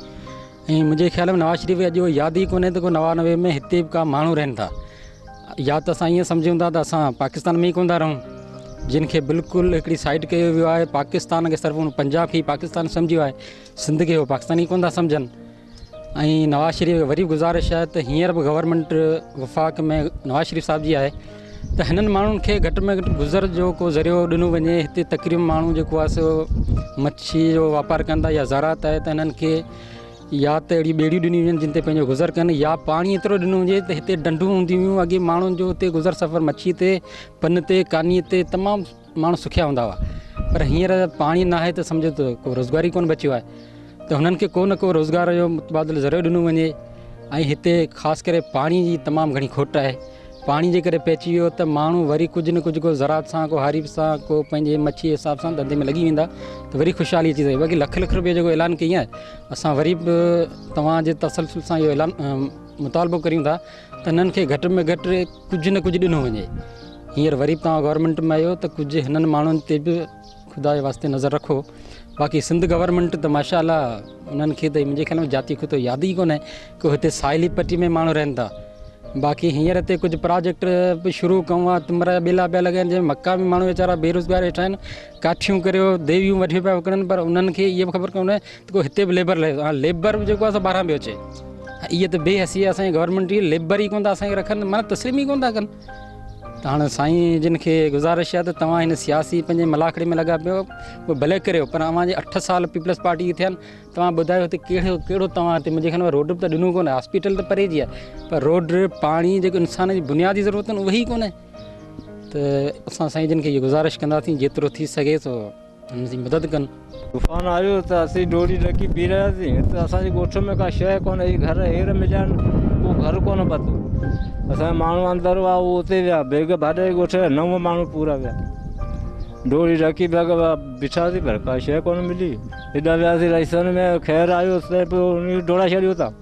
۽ منهنجي خيال ۾ نواز شريف اڄ ياد ئي ڪونهي ته ڪو نوانوي ۾ هتي به ڪا ماڻهو رهن ٿا يا ته اسان ائين سمجهون ٿا ته اسان پاڪستان ۾ ئي ڪونه ٿا رهون جن کي بلڪل هڪڙي سائيڊ ڪيو ويو آهي پاڪستان کي صرف پنجاب کي پاڪستان سمجهيو آهي سنڌ کي هو پاڪستان ئي ڪونه ٿا سمجهن ۽ نواز شريف کي وري به گذارش آهي ته هينئر به گورنمينٽ وفاق ۾ نواز شريف صاحب جي آهي ته هنن ماڻهن کي گهٽ ۾ گهٽ گذر جو ڪو ذريعو ڏنو وڃي هتي تقريب ماڻهو جيڪو آهي سو مڇي جو واپار ڪن ٿا يا زراعت آهي ته هنن کي يا ته اهڙي ٻيڙيون ڏنيون وڃن جن تي پنهنجو گذر ڪن يا پاڻي ايترو ڏنو وڃي ته هتي ڊنڊون هونديون هيون اڳي ماڻهن جو هتي گذر سفر مڇي تي پن تي ڪاني تي تمام ماڻهو سکيا هوندا هئا پر هينئر پاڻي نه آهي ته سمجهو ته ڪو روزگار ئي ڪونه بچيو آهي ته هنن کي ڪو نه ڪو روزگار جو متبادل ذريعو ڏنو وڃي ۽ هتي خاص ڪري پاڻي جي تمام گهڻي کوٽ آهي پاڻي جي ڪري پئجي ويو ته ماڻهو وري ڪجهه نه ڪجهه ڪو زراعت سان ڪو هاريب سان ڪو پنهنجي مڇي حساب سان ڌنڌي ۾ لڳي ويندا ته وري خوشحالي اچي سگهي باقي لک لک روپيه جيڪو اعلان ڪئي آهي اسان وري به توهان جي تسلسل سان اهو اعلان مطالبو ڪريون ٿا انهن کي گهٽ ۾ گهٽ ڪجهه نه ڪجهه ڏنو وڃي. هينئر وري به توهان گورنمينٽ ۾ آهيو ته ڪجهه هنن ماڻهن تي به خدا جي واسطي نظر رکو. باقي سنڌ گورنمينٽ ته ماشاء الله انهن کي ته منهنجي خيال ۾ جاتي خطو ياد ئي ڪونهي ڪو هتي ساحلي پٽي ۾ ماڻهو رهن ٿا. باقي هينئر هتي ڪجهه پراجيڪٽ به شروع ڪئون آهي تمرا جا ٻيلا پيا لڳائين جنهن مڪا ۾ ماڻهو ويچارا بيروزگار ويٺا آهن ڪاٺيون ڪريو ديويون وٺي پيا وڪڻن پر انهن کي اها به خبر ڪونهي گو هتي به ليبر لهي ها ليبر به جيڪو اسان ٻاهران پيو اچي اي ته بي حسي اسان جي گورنمنٽ جي ليبر ئي ڪون ٿا اسان کي رکن معنی تسليم ئي ڪون ٿا ڪن ته هاڻ سائين جن کي گزارش آهي ته توهان هن سياسي پنهنجي ملاکڙي ۾ لڳا پيو پوء بھلي ڪريو پر اوهان جي اٺ سال پيپلز پارٽي جي ٿيا آهن توهان ٻڌايو هتي ڪهڙو ڪهڙو توهان هتي منهنجي خيال ۾ روڊ به ته ڏنو ڪونه هاسپيٽل ته پري جي آهي پر روڊ پاڻي جيڪو انسان جي بنيادي ضرورت آهن اهي ئي ڪونه ته اسان سائين جن کي گزارش ڪنداسين جيترو ٿي سگهي سو هن جي مدد ڪن. طوفان آيو ته اسين ڊوڙي ڊڪي پي رهياسين. هت اسان جي ڳوٺ ۾ ڪا شيء ڪونه هئي. گهر هير مليا نه ڪو گهر ڪونه پتو. اسان جا ماڻهو اندر هئا اهي اتي ويا. بيگ ڀاڏائي ڳوٺ جا نو ماڻهو پورا ويا. ڊوڙي ڊڪي بيگ بيٺاسين پر ڪا شيء ڪونه ملي. هيڏانهن وياسين رئيسن ۾ خير آيو سڀ ڊوڙائي ڇڏيو اتان.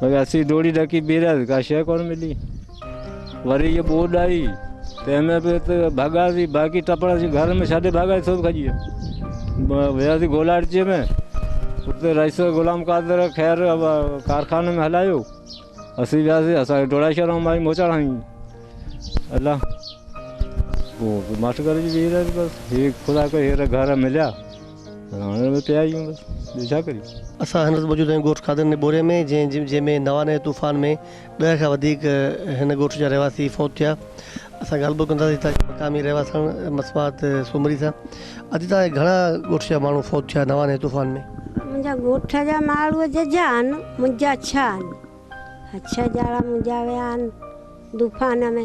پر اسين ڊوڙي ڊڪي بيهرياسي ڪا شيء ڪونه ملي وري جي ٻوڏ آئي تنهن ۾ به ته ڀڳاسي باقي ٽپڙ اسين گهر ۾ ڇڏي ڀڳاسي سڀ کڄي ويا وياسي گولاڙچي ۾ اتي رئيس غلام قادر خير ڪارخاني ۾ هلايو اسين وياسي اسان کي ڊوڙائي شهر مائي موچاڙ هنئي الله پوء ماٺ ڪري بيهي رهياسي بس هي خدا ڪري هير گهر مليا هاڻي ته پيا ئي آهيون بس ٻيو ڇا ڪريون. اسان هن وقت موجود آهيون ڳوٺ خادرني بوري ۾ جنهن ۾ نوان ۽ طوفان ۾ ڏهه کان وڌيڪ هن ڳوٺ جا رهواسي فوت ٿيا اسان ڳالهه ٻولهه ڪنداسين تاڪه مقامي رهواسڻ مصباحت سومري سان اڄ تائين گهڻا ڳوٺ جا ماڻهو فوت ٿيا نوان ۽ طوفان ۾. منهنجا ڳوٺ جا ماڻهو ججا آهن منهنجا ڇهه آهن ڇهه ڄاڻا منهنجا ويا آهن طوفان ۾.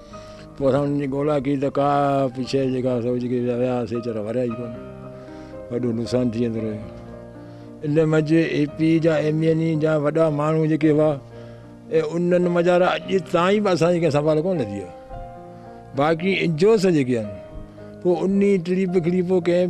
پوء اسان انهن جي ڳولا ڪئي ته ڪا به شيء جيڪا سو جيڪي ويا سي ويچارا وريا ئي ڪونه. وڏو نقصان ٿي ويندو رهيو. ان منجهه اي پي جا ايم اين اي جا وڏا ماڻهو جيڪي هئا اي انهن مجارا اڄ تائين به اسان جي ڪنهن سنڀال ڪونه لڌي آهي. باقي انجوس جيڪي آهن پوء انهي ٽڙي پکڙي پوء ڪنهن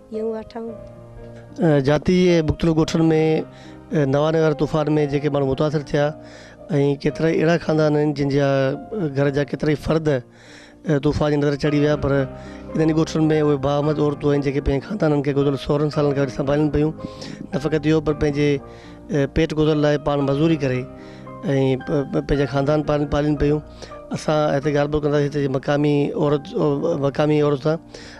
يون وٺون. جاتي ۽ مختلف ڳوٺن ۾ نوان نگار طوفان ۾ جيڪي ماڻهو متاثر ٿيا ۽ ڪيترائي اهڙا خاندان آهن جن جا گهر جا ڪيترائي فرد طوفان جي نظر چڙهي ويا پر انهن ئي ڳوٺن ۾ اهي باهمت عورتون آهن جيڪي پنهنجي خاندانن کي گذريل سورهن سالن کان وٺي سنڀالين پيون نه فقط اهو پر پنهنجي پيٽ گذر لاء پاڻ مزوري ڪري ۽ پنهنجا خاندان پاڻ پالين پيون اسان هتي ڳالهه ٻولهه ڪنداسين هتي جي مقامي عورت مقامي عورت سان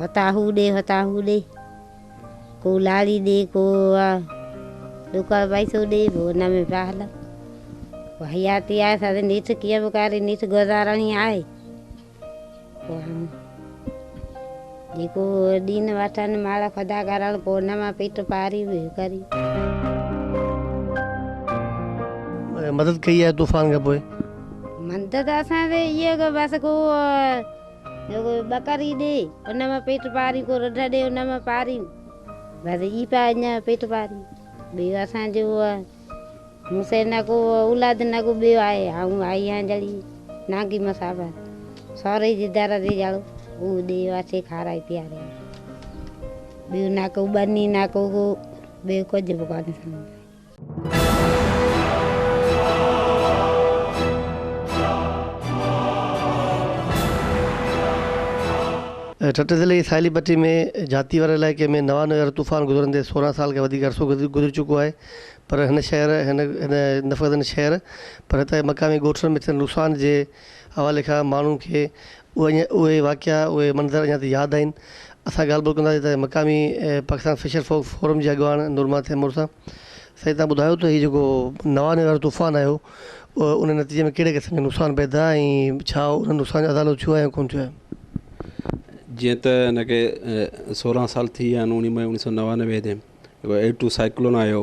هتان هو ڏي هتان هو ڏي ڪو لاڙي ڏي ڪو ڏکوئي پئسو ڏي پوء ان ۾ پيا هلن پوء حياتي آهي ساري نيٺ ڪيئن به ڪري نيٺ گذارڻي آهي پوء جيڪو ڏين وٺن مال خدا ڪرڻ پوء ان مان پيٽ پاري به ڪري مدد ڪئي آهي طوفان کان پوء؟ مدد اسان تي اهي ڪو بس ڪو ڪو ٻڪري ڏي ان مان پيٽ پارين ڪو رڍ ڏي ان مان پارين بس اي پيا اڃا پيٽ پارين ٻيو اسان جو مون سين نه ڪو اولاد نه ڪو ٻيو آهي آئون آئي آهيان جھڙي نانگي مسافر سوري جي در تي جھڙو اهو ڏي واسي کارائي پياري ٻيو نه ڪو ٻني نه ڪو ٻيو ڪجھ به ڪانه ٺٽي ضلعي جي ساحلي پٽي ۾ جهاتي واري علائقي ۾ نوان نيو يارو طوفان گذرندي سورهن سال کان وڌيڪ عرصو گذري گذري چڪو آهي پر هن شهر هن هن نفرتن شهر پر هتان جي مقامي ڳوٺن ۾ ٿيل نقصان جي حوالي کان ماڻهن کي اهي واقعا اهي منظر اڃا تائين ياد آهن. اسان ڳالهه ٻولهه ڪنداسين ته مقامي پاڪستان فشر فوڪ فورم جي اڳواڻ نورماء تيمور سان. سائين تان ٻڌايو ته هي جيڪو نوانوي وارو طوفان آيو ان نتيجي ۾ ڪهڙي قسم جا نقصان پئي ٿيا ۽ ڇا انهن نقصان جو ازالو ٿيو آهي يا ڪونه ٿيو آهي. جيئن ته هن کي سورهن سال ٿي ويا آهن اوڻي مئي اوڻيهه سؤ نوانوي تي جيڪو ايٽو سائيڪلون آيو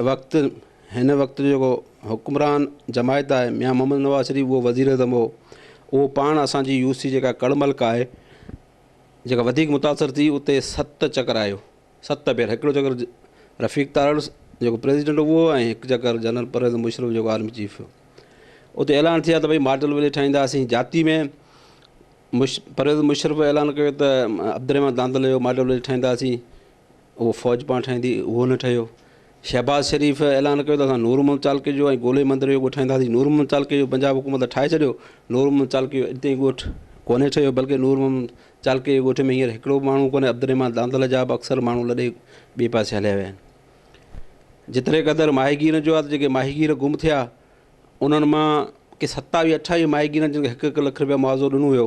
وقت هن وقت جو جيڪو حڪمران جماعت آهي ميان محمد نواز شريف اهو وزير اعظم هو اهو پاڻ اسانجي يو سي جيڪا ڪڙ ملڪ آهي جيڪا وڌيڪ متاثر ٿي اتي ست چڪر آيو ست ڀيرا هڪڙو چڪر رفيق تارڙ جيڪو پريزيڊنٽ هو اهو ۽ هڪ چڪر جنرل پرويز مشرف جيڪو آرمي چيف هو اتي اعلان ٿيا ته ڀائی ماڊل وليج ٺاهينداسين جاتي ۾ مش پرويز مشرف اعلان ڪيو ته عبدالرحمان داندل جو ماڊل وليج ٺاهينداسين اهو فوج پاڻ ٺاهيندي، اهو نه ٺهيو. شهباز شريف اعلان ڪيو ته اسان نور محمد چالڪي جو ۽ گولي مندر جو ڳوٺ ٺاهينداسين. نور محمد چالڪي جو پنجاب حڪومت ته ٺاهي ڇڏيو، نور محمد چالڪي جو اڄ تائين ڳوٺ ڪونهي ٺهيو، بلڪه نور محمد چالڪي جي ڳوٺ ۾ هينئر هڪڙو به ماڻهو ڪونهي، عبدالرحمان داندل جا به اڪثر ماڻهو لڏي ٻئي پاسي هليا ويا آهن. جيتري قدر ماهيگيرن جو آهي ته جيڪي ماهيگير گم ٿيا، انهن مان ڪي ستاويهه اٺاويهه ماهيگيرن جن کي هڪ هڪ لک رپيا معاوضو ڏنو ويو،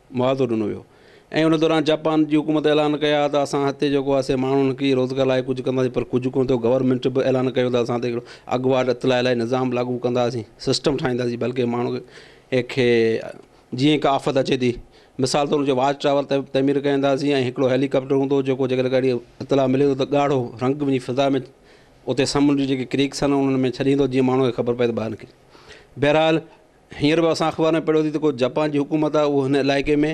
معاوضو ڏنو ويو ۽ ان دوران جاپان جي حڪومت اعلان ڪيا ته اسان هتي جيڪو آهي سي ماڻهن کي روزگار لاء ڪجهه ڪنداسين پر ڪجهه ڪونه ٿيو گورنمينٽ به اعلان ڪيو ته اسان هتي اڳواٽ اطلاع لاء نظام لاڳو ڪنداسين سسٽم ٺاهينداسين بلڪه ماڻهو کي جيئن هڪ آفت اچي ٿي مثال طور جو واچ ٽاور تعمير ڪنداسين ۽ هڪڙو هيلي ڪاپٽر هوندو جيڪو جيڪڏهن ڪهڙي اطلاع ملي ٿو ته ڳاڙهو رنگ وڃي فضا ۾ اتي سمنڊ جي جيڪي ڪريڪس آهن انهن ۾ ڇڏيندو جيئن ماڻهو کي خبر پئي ته ٻاهر نڪري بهرحال هينئر به اسان اخبار ۾ پڙهيو ٿي ته ڪو جپان جي حڪومت آهي اهو هن علائقي ۾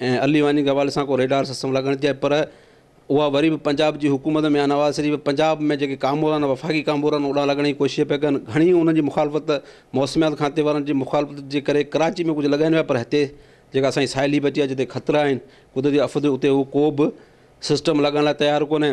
۽ علي واني جي حوالي سان ڪو ريڊار سسٽم لڳائڻ ٿي چاهي پر اها وري به پنجاب جي حڪومت ميان نواز شريف پنجاب ۾ جيڪي ڪامورا آهن وفاقي ڪامورا آهن اوڏانهن لڳڻ جي ڪوشش پيا ڪن گهڻي انهن جي مخالفت موسميات کاتي وارن جي مخالفت جي ڪري ڪراچي ۾ ڪجهه لڳائين پيا پر هتي جيڪا اسان جي ساحلي بچي آهي جتي خطرا آهن قدرتي آفت اتي اهو ڪو به سسٽم لڳائڻ لاء تيار ڪونهي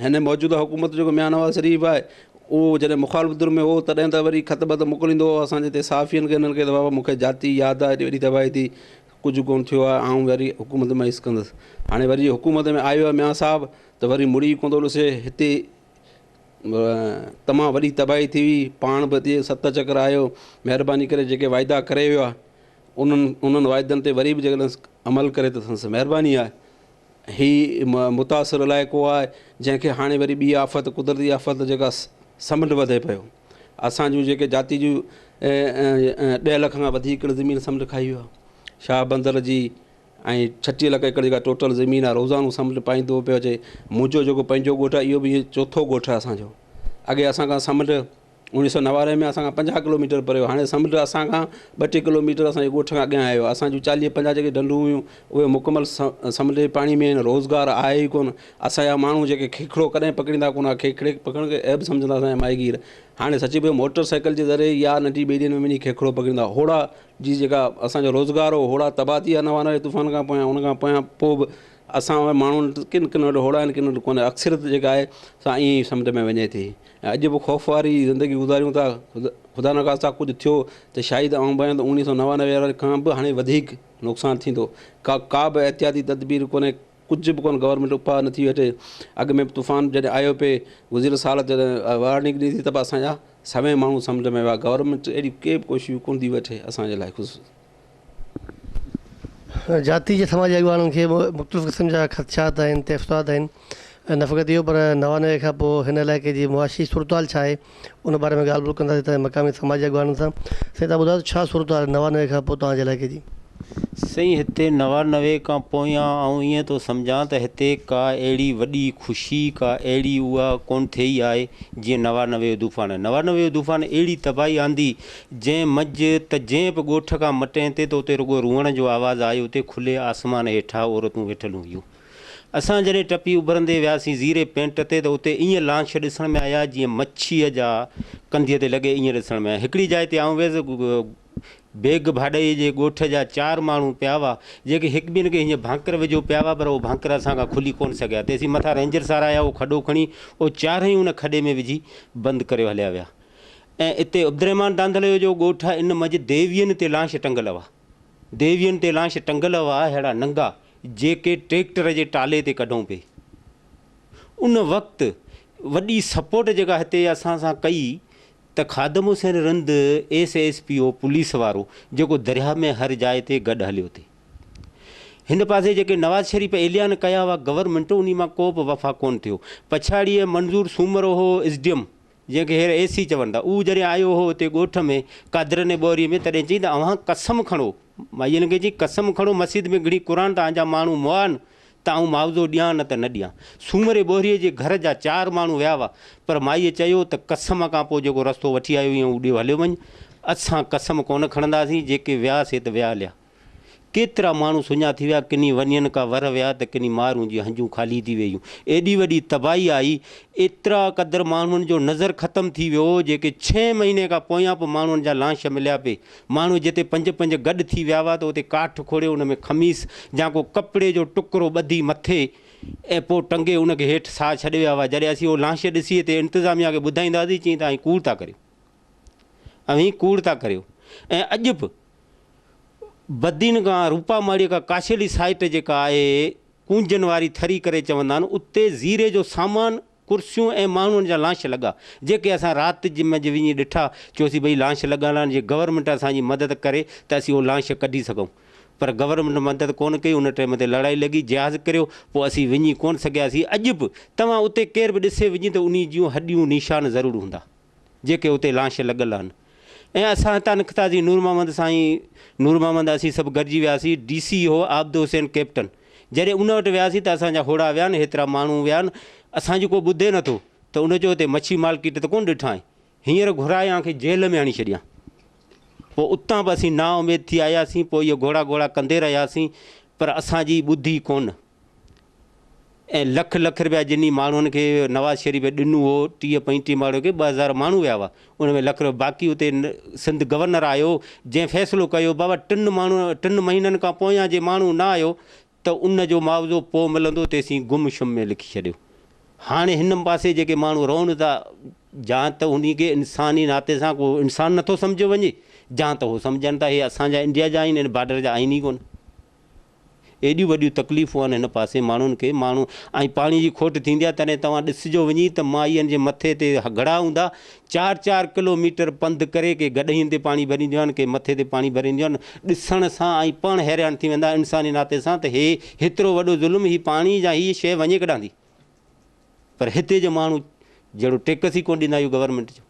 هن موجوده حڪومت جو جيڪو ميان نواز شريف آهي اهو جڏهن مخالف ڌر ۾ هو تڏهن ته وري خط بط موڪليندو هو اسان جي هتي صحافين کي هنن کي ته بابا مون کي جاتي ياد آهي هيڏي وڏي تباهي ٿي ڪجهه ڪونه ٿيو آهي آئون وري حڪومت ۾ حص ڪندس هاڻي وري حڪومت ۾ آيو آهي ميان صاحب ته وري مڙي ڪونه ٿو ڏسي هتي تمام وڏي تباهي ٿي هئي پاڻ به هتي ست چڪر آيو مهرباني ڪري جيڪي واعدا ڪري ويو آهي انهن انهن واعدن تي وري به جيڪڏهن عمل ڪري ته سندس مهرباني آهي هي متاثر علائقو آهي جنهن کي هاڻي وري ٻي آفت قدرتي آفت جيڪا سمنڊ وڌي پيو اسان جون جيڪي جاتي جون ڏهه لک کان وڌيڪ ايڪڙ زمين سمنڊ کائي ويو آهي شاهه بندر جي ۽ ڇٽيهه لک ايڪڙ جيڪا ٽوٽل زمين آهي روزانو سمنڊ پائيندو پيو اچي منهنجو جيڪو پنهنجو ڳوٺ آهي اهو به ائين چوٿو ڳوٺ آهي اسانجو اڳي اسان کان سمنڊ اڻيهه سؤ نوارهه ۾ اسان کان پنجاهه ڪلوميٽر پري هو. هاڻي سمنڊ اسان کان ٻه ٽي ڪلوميٽر اسان جي ڳوٺ کان اڳيان آيو آهي. اسان جون چاليهه پنجاهه جيڪي ڍنڍون هيون، اهي مڪمل سمنڊ جي پاڻي ۾ آهن. روزگار آهي ئي ڪونه. اسان جا ماڻهو جيڪي کيکرو ڪڏهن پڪڙيندا ڪونه هئا. کيکري پڪڙڻ کي عيب سمجهندا اسان جا ماهيگير. هاڻي سچي پچي موٽر سائيڪل جي ذريعي يا ننڍي ٻيڙين ۾ وڃي کيکرو پڪڙيندا. هوڙا جي جيڪا اسان جو روزگار هو، هوڙا تباهه ٿي ويا نوارهه جي طوفان کان پويان. ان کان پويان پوء به اسان وٽ ماڻهو ڪن ڪن وٽ هوڙا آهن ڪن وٽ ڪونه. اڪثريت جيڪا آهي سا ائين ئي سمنڊ ۾ وڃي ٿي. ۽ اڄ به خوف واري زندگي گذاريون ٿا، خدا نخواسته ڪجهه ٿيو ته شايد آئون ڀانيان ته اوڻيهه سؤ نوانوي واري کان به هاڻي وڌيڪ نقصان ٿيندو، ڪا ڪا به احتياطي تدبير ڪونهي، ڪجهه به ڪونه گورنمينٽ اپاء نٿي وٺي، اڳ ۾ به طوفان جڏهن آيو پئي گذريل سال جڏهن وارننگ ڏني ٿي ته به اسان جا سوين ماڻهو سمنڊ ۾ ويا، گورنمينٽ اهڙيون ڪي به ڪوششون ڪونه ٿي وٺي اسان جي لاء خصوص. جاتي جي سماجي اڳواڻن کي به مختلف قسم جا خدشات آهن تحفظات آهن ۽ نه فقط اهو پر نوانوي کان پوء هن علائقي جي معاشي صورتحال ڇا آهي ان باري ۾ ڳالهه ٻولهه ڪنداسين تنهن مقامي سماجي اڳواڻن سان سائين تان ٻڌايو ته ڇا صورتحال آهي نوانوي کان پوء توهان جي علائقي جي سائين هتي نوانوي کان پويان آئون ائين ٿو سمجهان ته هتي ڪا اهڙي وڏي خوشي ڪا اهڙي اها ڪونه ٿئي آهي جيئن نوانوي جو طوفان آهي نوانوي جو طوفان اهڙي تباهي آندي جنهن مجھ ته جنهن به ڳوٺ کان مٽين تي ته اتي رڳو روئڻ جو آواز آيو اتي کلي آسمان هيٺا عورتون ويٺلون هيون اسان جڏهن ٽپي اڀرندي وياسين زيري پينٽ تي ته اتي ائين لانڇ ڏسڻ ۾ آيا جيئن مڇيء جا ڪنڌيء تي لڳي ائين ڏسڻ ۾ آيا هڪڙي جاء تي آئون ويس بيگ ڀاڏئي جي ڳوٺ جا چار ماڻهو پيا هئا جيڪي هڪ ٻين کي هيئن ڀانڪر وجهيو پيا هئا پر اهو ڀانڪر اسان کان کلي ڪونه سگهيا تيسين مٿان رينجر سار آيا اهو کڏو کڻي اهو چارئي ان کڏي ۾ وجهي بند ڪريو هليا ويا ۽ اتي عبدالرحمان ڌانڌليو جو ڳوٺ آهي ان منجهه ديوين تي لانش ٽنگل هئا ديوين تي لانش ٽنگل هئا اهڙا ننگا جيڪي ٽريڪٽر جي ٽالي تي ڪڍون پئي ان وقت وڏي سپورٽ جيڪا هتي اسان سان ڪئي ته Khadim Hussain Rind S S P O police وارو جيڪو درياهه ۾ هر جاء تي گڏ هليو تي هن پاسي جيڪي نواز شريف اعلان ڪيا هئا گورنمنٽ انهي مان ڪو به وفا ڪون ٿيو پڇاڙيء منظور سومرو هو اس ڊي ايم جنهن کي هير اي سي چون ٿا. اهو جڏهن آيو هو اتي ڳوٺ ۾ قادرن جي ٻوريء ۾ تڏهن چيائين ته اوهان قسم کڻو، مائيء هن کي چيائين قسم کڻو مسيت ۾ گهڙي قرآن توهان جا ماڻهو مئان ته آئون معاوضو ڏيان نه ته نه ڏيان. سومري ٻوريء جي گهر جا چار ماڻهو ويا هئا پر مائيء چيو ته قسم کان پوء جيڪو رستو وٺي آيو هئين اهو ڏيو هليو وڃ. اسان قسم ڪونه کڻنداسين جيڪي ويا سي ته ويا هليا. ڪيترا ماڻهو سڃا ٿي ويا، ڪني ونين ڪا ورهه ويا ته ڪني مارون جي هنجون خالي ٿي ويون. ايڏي وڏي تباهي آئي، ايترا قدر ماڻهن جو نظر ختم ٿي ويو، جيڪي ڇهين مهيني کان پويان به ماڻهن جا لانش مليا پي. ماڻهو جتي پنج پنج گڏ ٿي ويا هئا ته اتي ڪاٺ کوڙي ان ۾ خميس يا ڪو ڪپڙي جو ٽڪرو ٻڌي مٿي ۽ پوء ٽنگي ان کي هيٺ ساهه ڇڏي ويا هئا. جڏهن اسين اهو لانش ڏسي تي انتظاميا کي ٻڌائيندا هئاسين چين ته آئين ڪوڙ ٿا ڪريون. اوهين ڪوڙ ٿا ڪريو ۽ اڄ به بدين کان روپا ماڙيء کان ڪاشيلي سائيٽ جيڪا آهي ڪونجن واري ٿري ڪري چوندا آهن اتي زيري جو سامان ڪرسيون ۽ ماڻهن جا لانش لڳا جيڪي اسان رات منجهه وڃي ڏٺا چيوسين ڀئي لانش لڳل آهن جي گورنمينٽ اسان جي مدد ڪري ته اسين اهي لانش ڪڍي سگهون پر گورنمينٽ مدد ڪونه ڪئي ان ٽيم تي لڙائي لڳي جهاز ڪريو پوء اسين وڃي ڪونه سگهياسين اڄ به توهان اتي ڪير به ڏسي وڃي ته انهي جون هڏيون نيشان ضرور هوندا. جيڪي اتي لانش لڳل آھن ۽ اسان ھتان نڪتاسين نور محمد سائين نور محمد اسين سڀ گڏجي وياسين ڊي سي ھو عابد حسين ڪئپٽن جڏھن ان وٽ وياسين ته اسان جا ھوڙا ويا آھن ھيترا ماڻھو ويا آھن اسان جي ڪو ٻڌي نه ٿو ته ان چيو اتي مڇي مارڪيٽ ته ڪونه ڏٺائين ھينئر گھرائي اوھان کي جيل ۾ ھڻي ڇڏيان پوء اتان به اسين نااميد ٿي آياسين پوء اھي گھوڙا گھوڙا ڪندي رھياسين پر اسان جي ٻڌي ڪونه. ۽ لک لک رپيا جنھن ماڻھن کي نواز شريف ڏنو ھو ٽيھه پنجٽيھه ماڻھن کي ٻه ھزار ماڻھو ويا ھئا ان ۾ لک رپيا باقي اتي سنڌ گورنر آيو جنھن فيصلو ڪيو بابا ٽن ماڻھن ٽن مھينن کان پويان جي ماڻھو نه آيو ته ان جو معاوضو پوء ملندو تيسين گم شم ۾ لکي ڇڏيو ھاڻي ھن پاسي جيڪي ماڻھو رھن ٿا جان ته انھي کي انساني ناتي سان ڪو انسان نٿو سمجھيو وڃي جان ته ھو سمجھن ٿا ھي اسان جا انڊيا جا آھن ھن بارڊر جا آھن ئي ڪونه. ايڏيون وڏيون تڪليفون آهن هن پاسي ماڻهن کي ماڻهو ۽ پاڻي جي کوٽ ٿيندي آهي تڏهن توهان ڏسجو وڃي ته مائين جي مٿي تي گهڙا هوندا چار چار ڪلو ميٽر پنڌ ڪري ڪي گڏهين تي پاڻي ڀرينديون آهن ڪي مٿي تي پاڻي ڀرينديون آهن ڏسڻ سان ۽ پاڻ حيران ٿي ويندا انساني ناتي سان ته هي هيترو وڏو ظلم هي پاڻي جا هي شيء وڃي ڪڏانهن ٿي. پر هتي جو ماڻهو جهڙو ٽيڪس ئي ڪونه ڏيندا اهو گورنمينٽ جو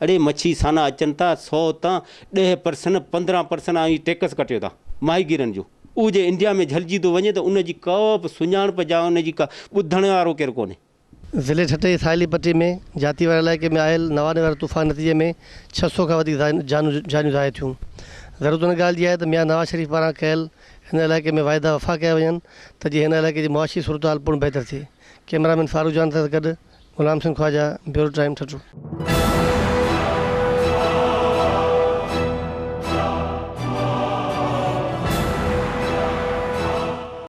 اڙي مڇي سانا اچن ٿا سو تان ڏهه پرسن پندرهن پرسن آئي ٽيڪس ڪٽيو ٿا ماهي گيرن جو اهو جي انڊيا ۾ جهلجي ٿو وڃي ته ان جي ڪا به سڃاڻپ جا ان جي ڪا ٻڌڻ وارو ڪير ڪونهي ضلعي ٺٽي ساحلي پٽي ۾ جاتي واري علائقي ۾ آيل نواري واري طوفان نتيجي ۾ ڇهه سؤ کان وڌيڪ جانون جانيون ضايع ٿيون ضرورت ان ڳالهه جي آهي ته ميان نواز شريف پاران ڪيل هن علائقي ۾ واعدا وفا ڪيا وڃن ته جيئن هن علائقي جي معاشي صورتحال پڻ بهتر ٿئي. ڪئميرا مين فاروق جان سان گڏ غلام سنگهه خواجا، بيورو ٽائيم ٺٽو.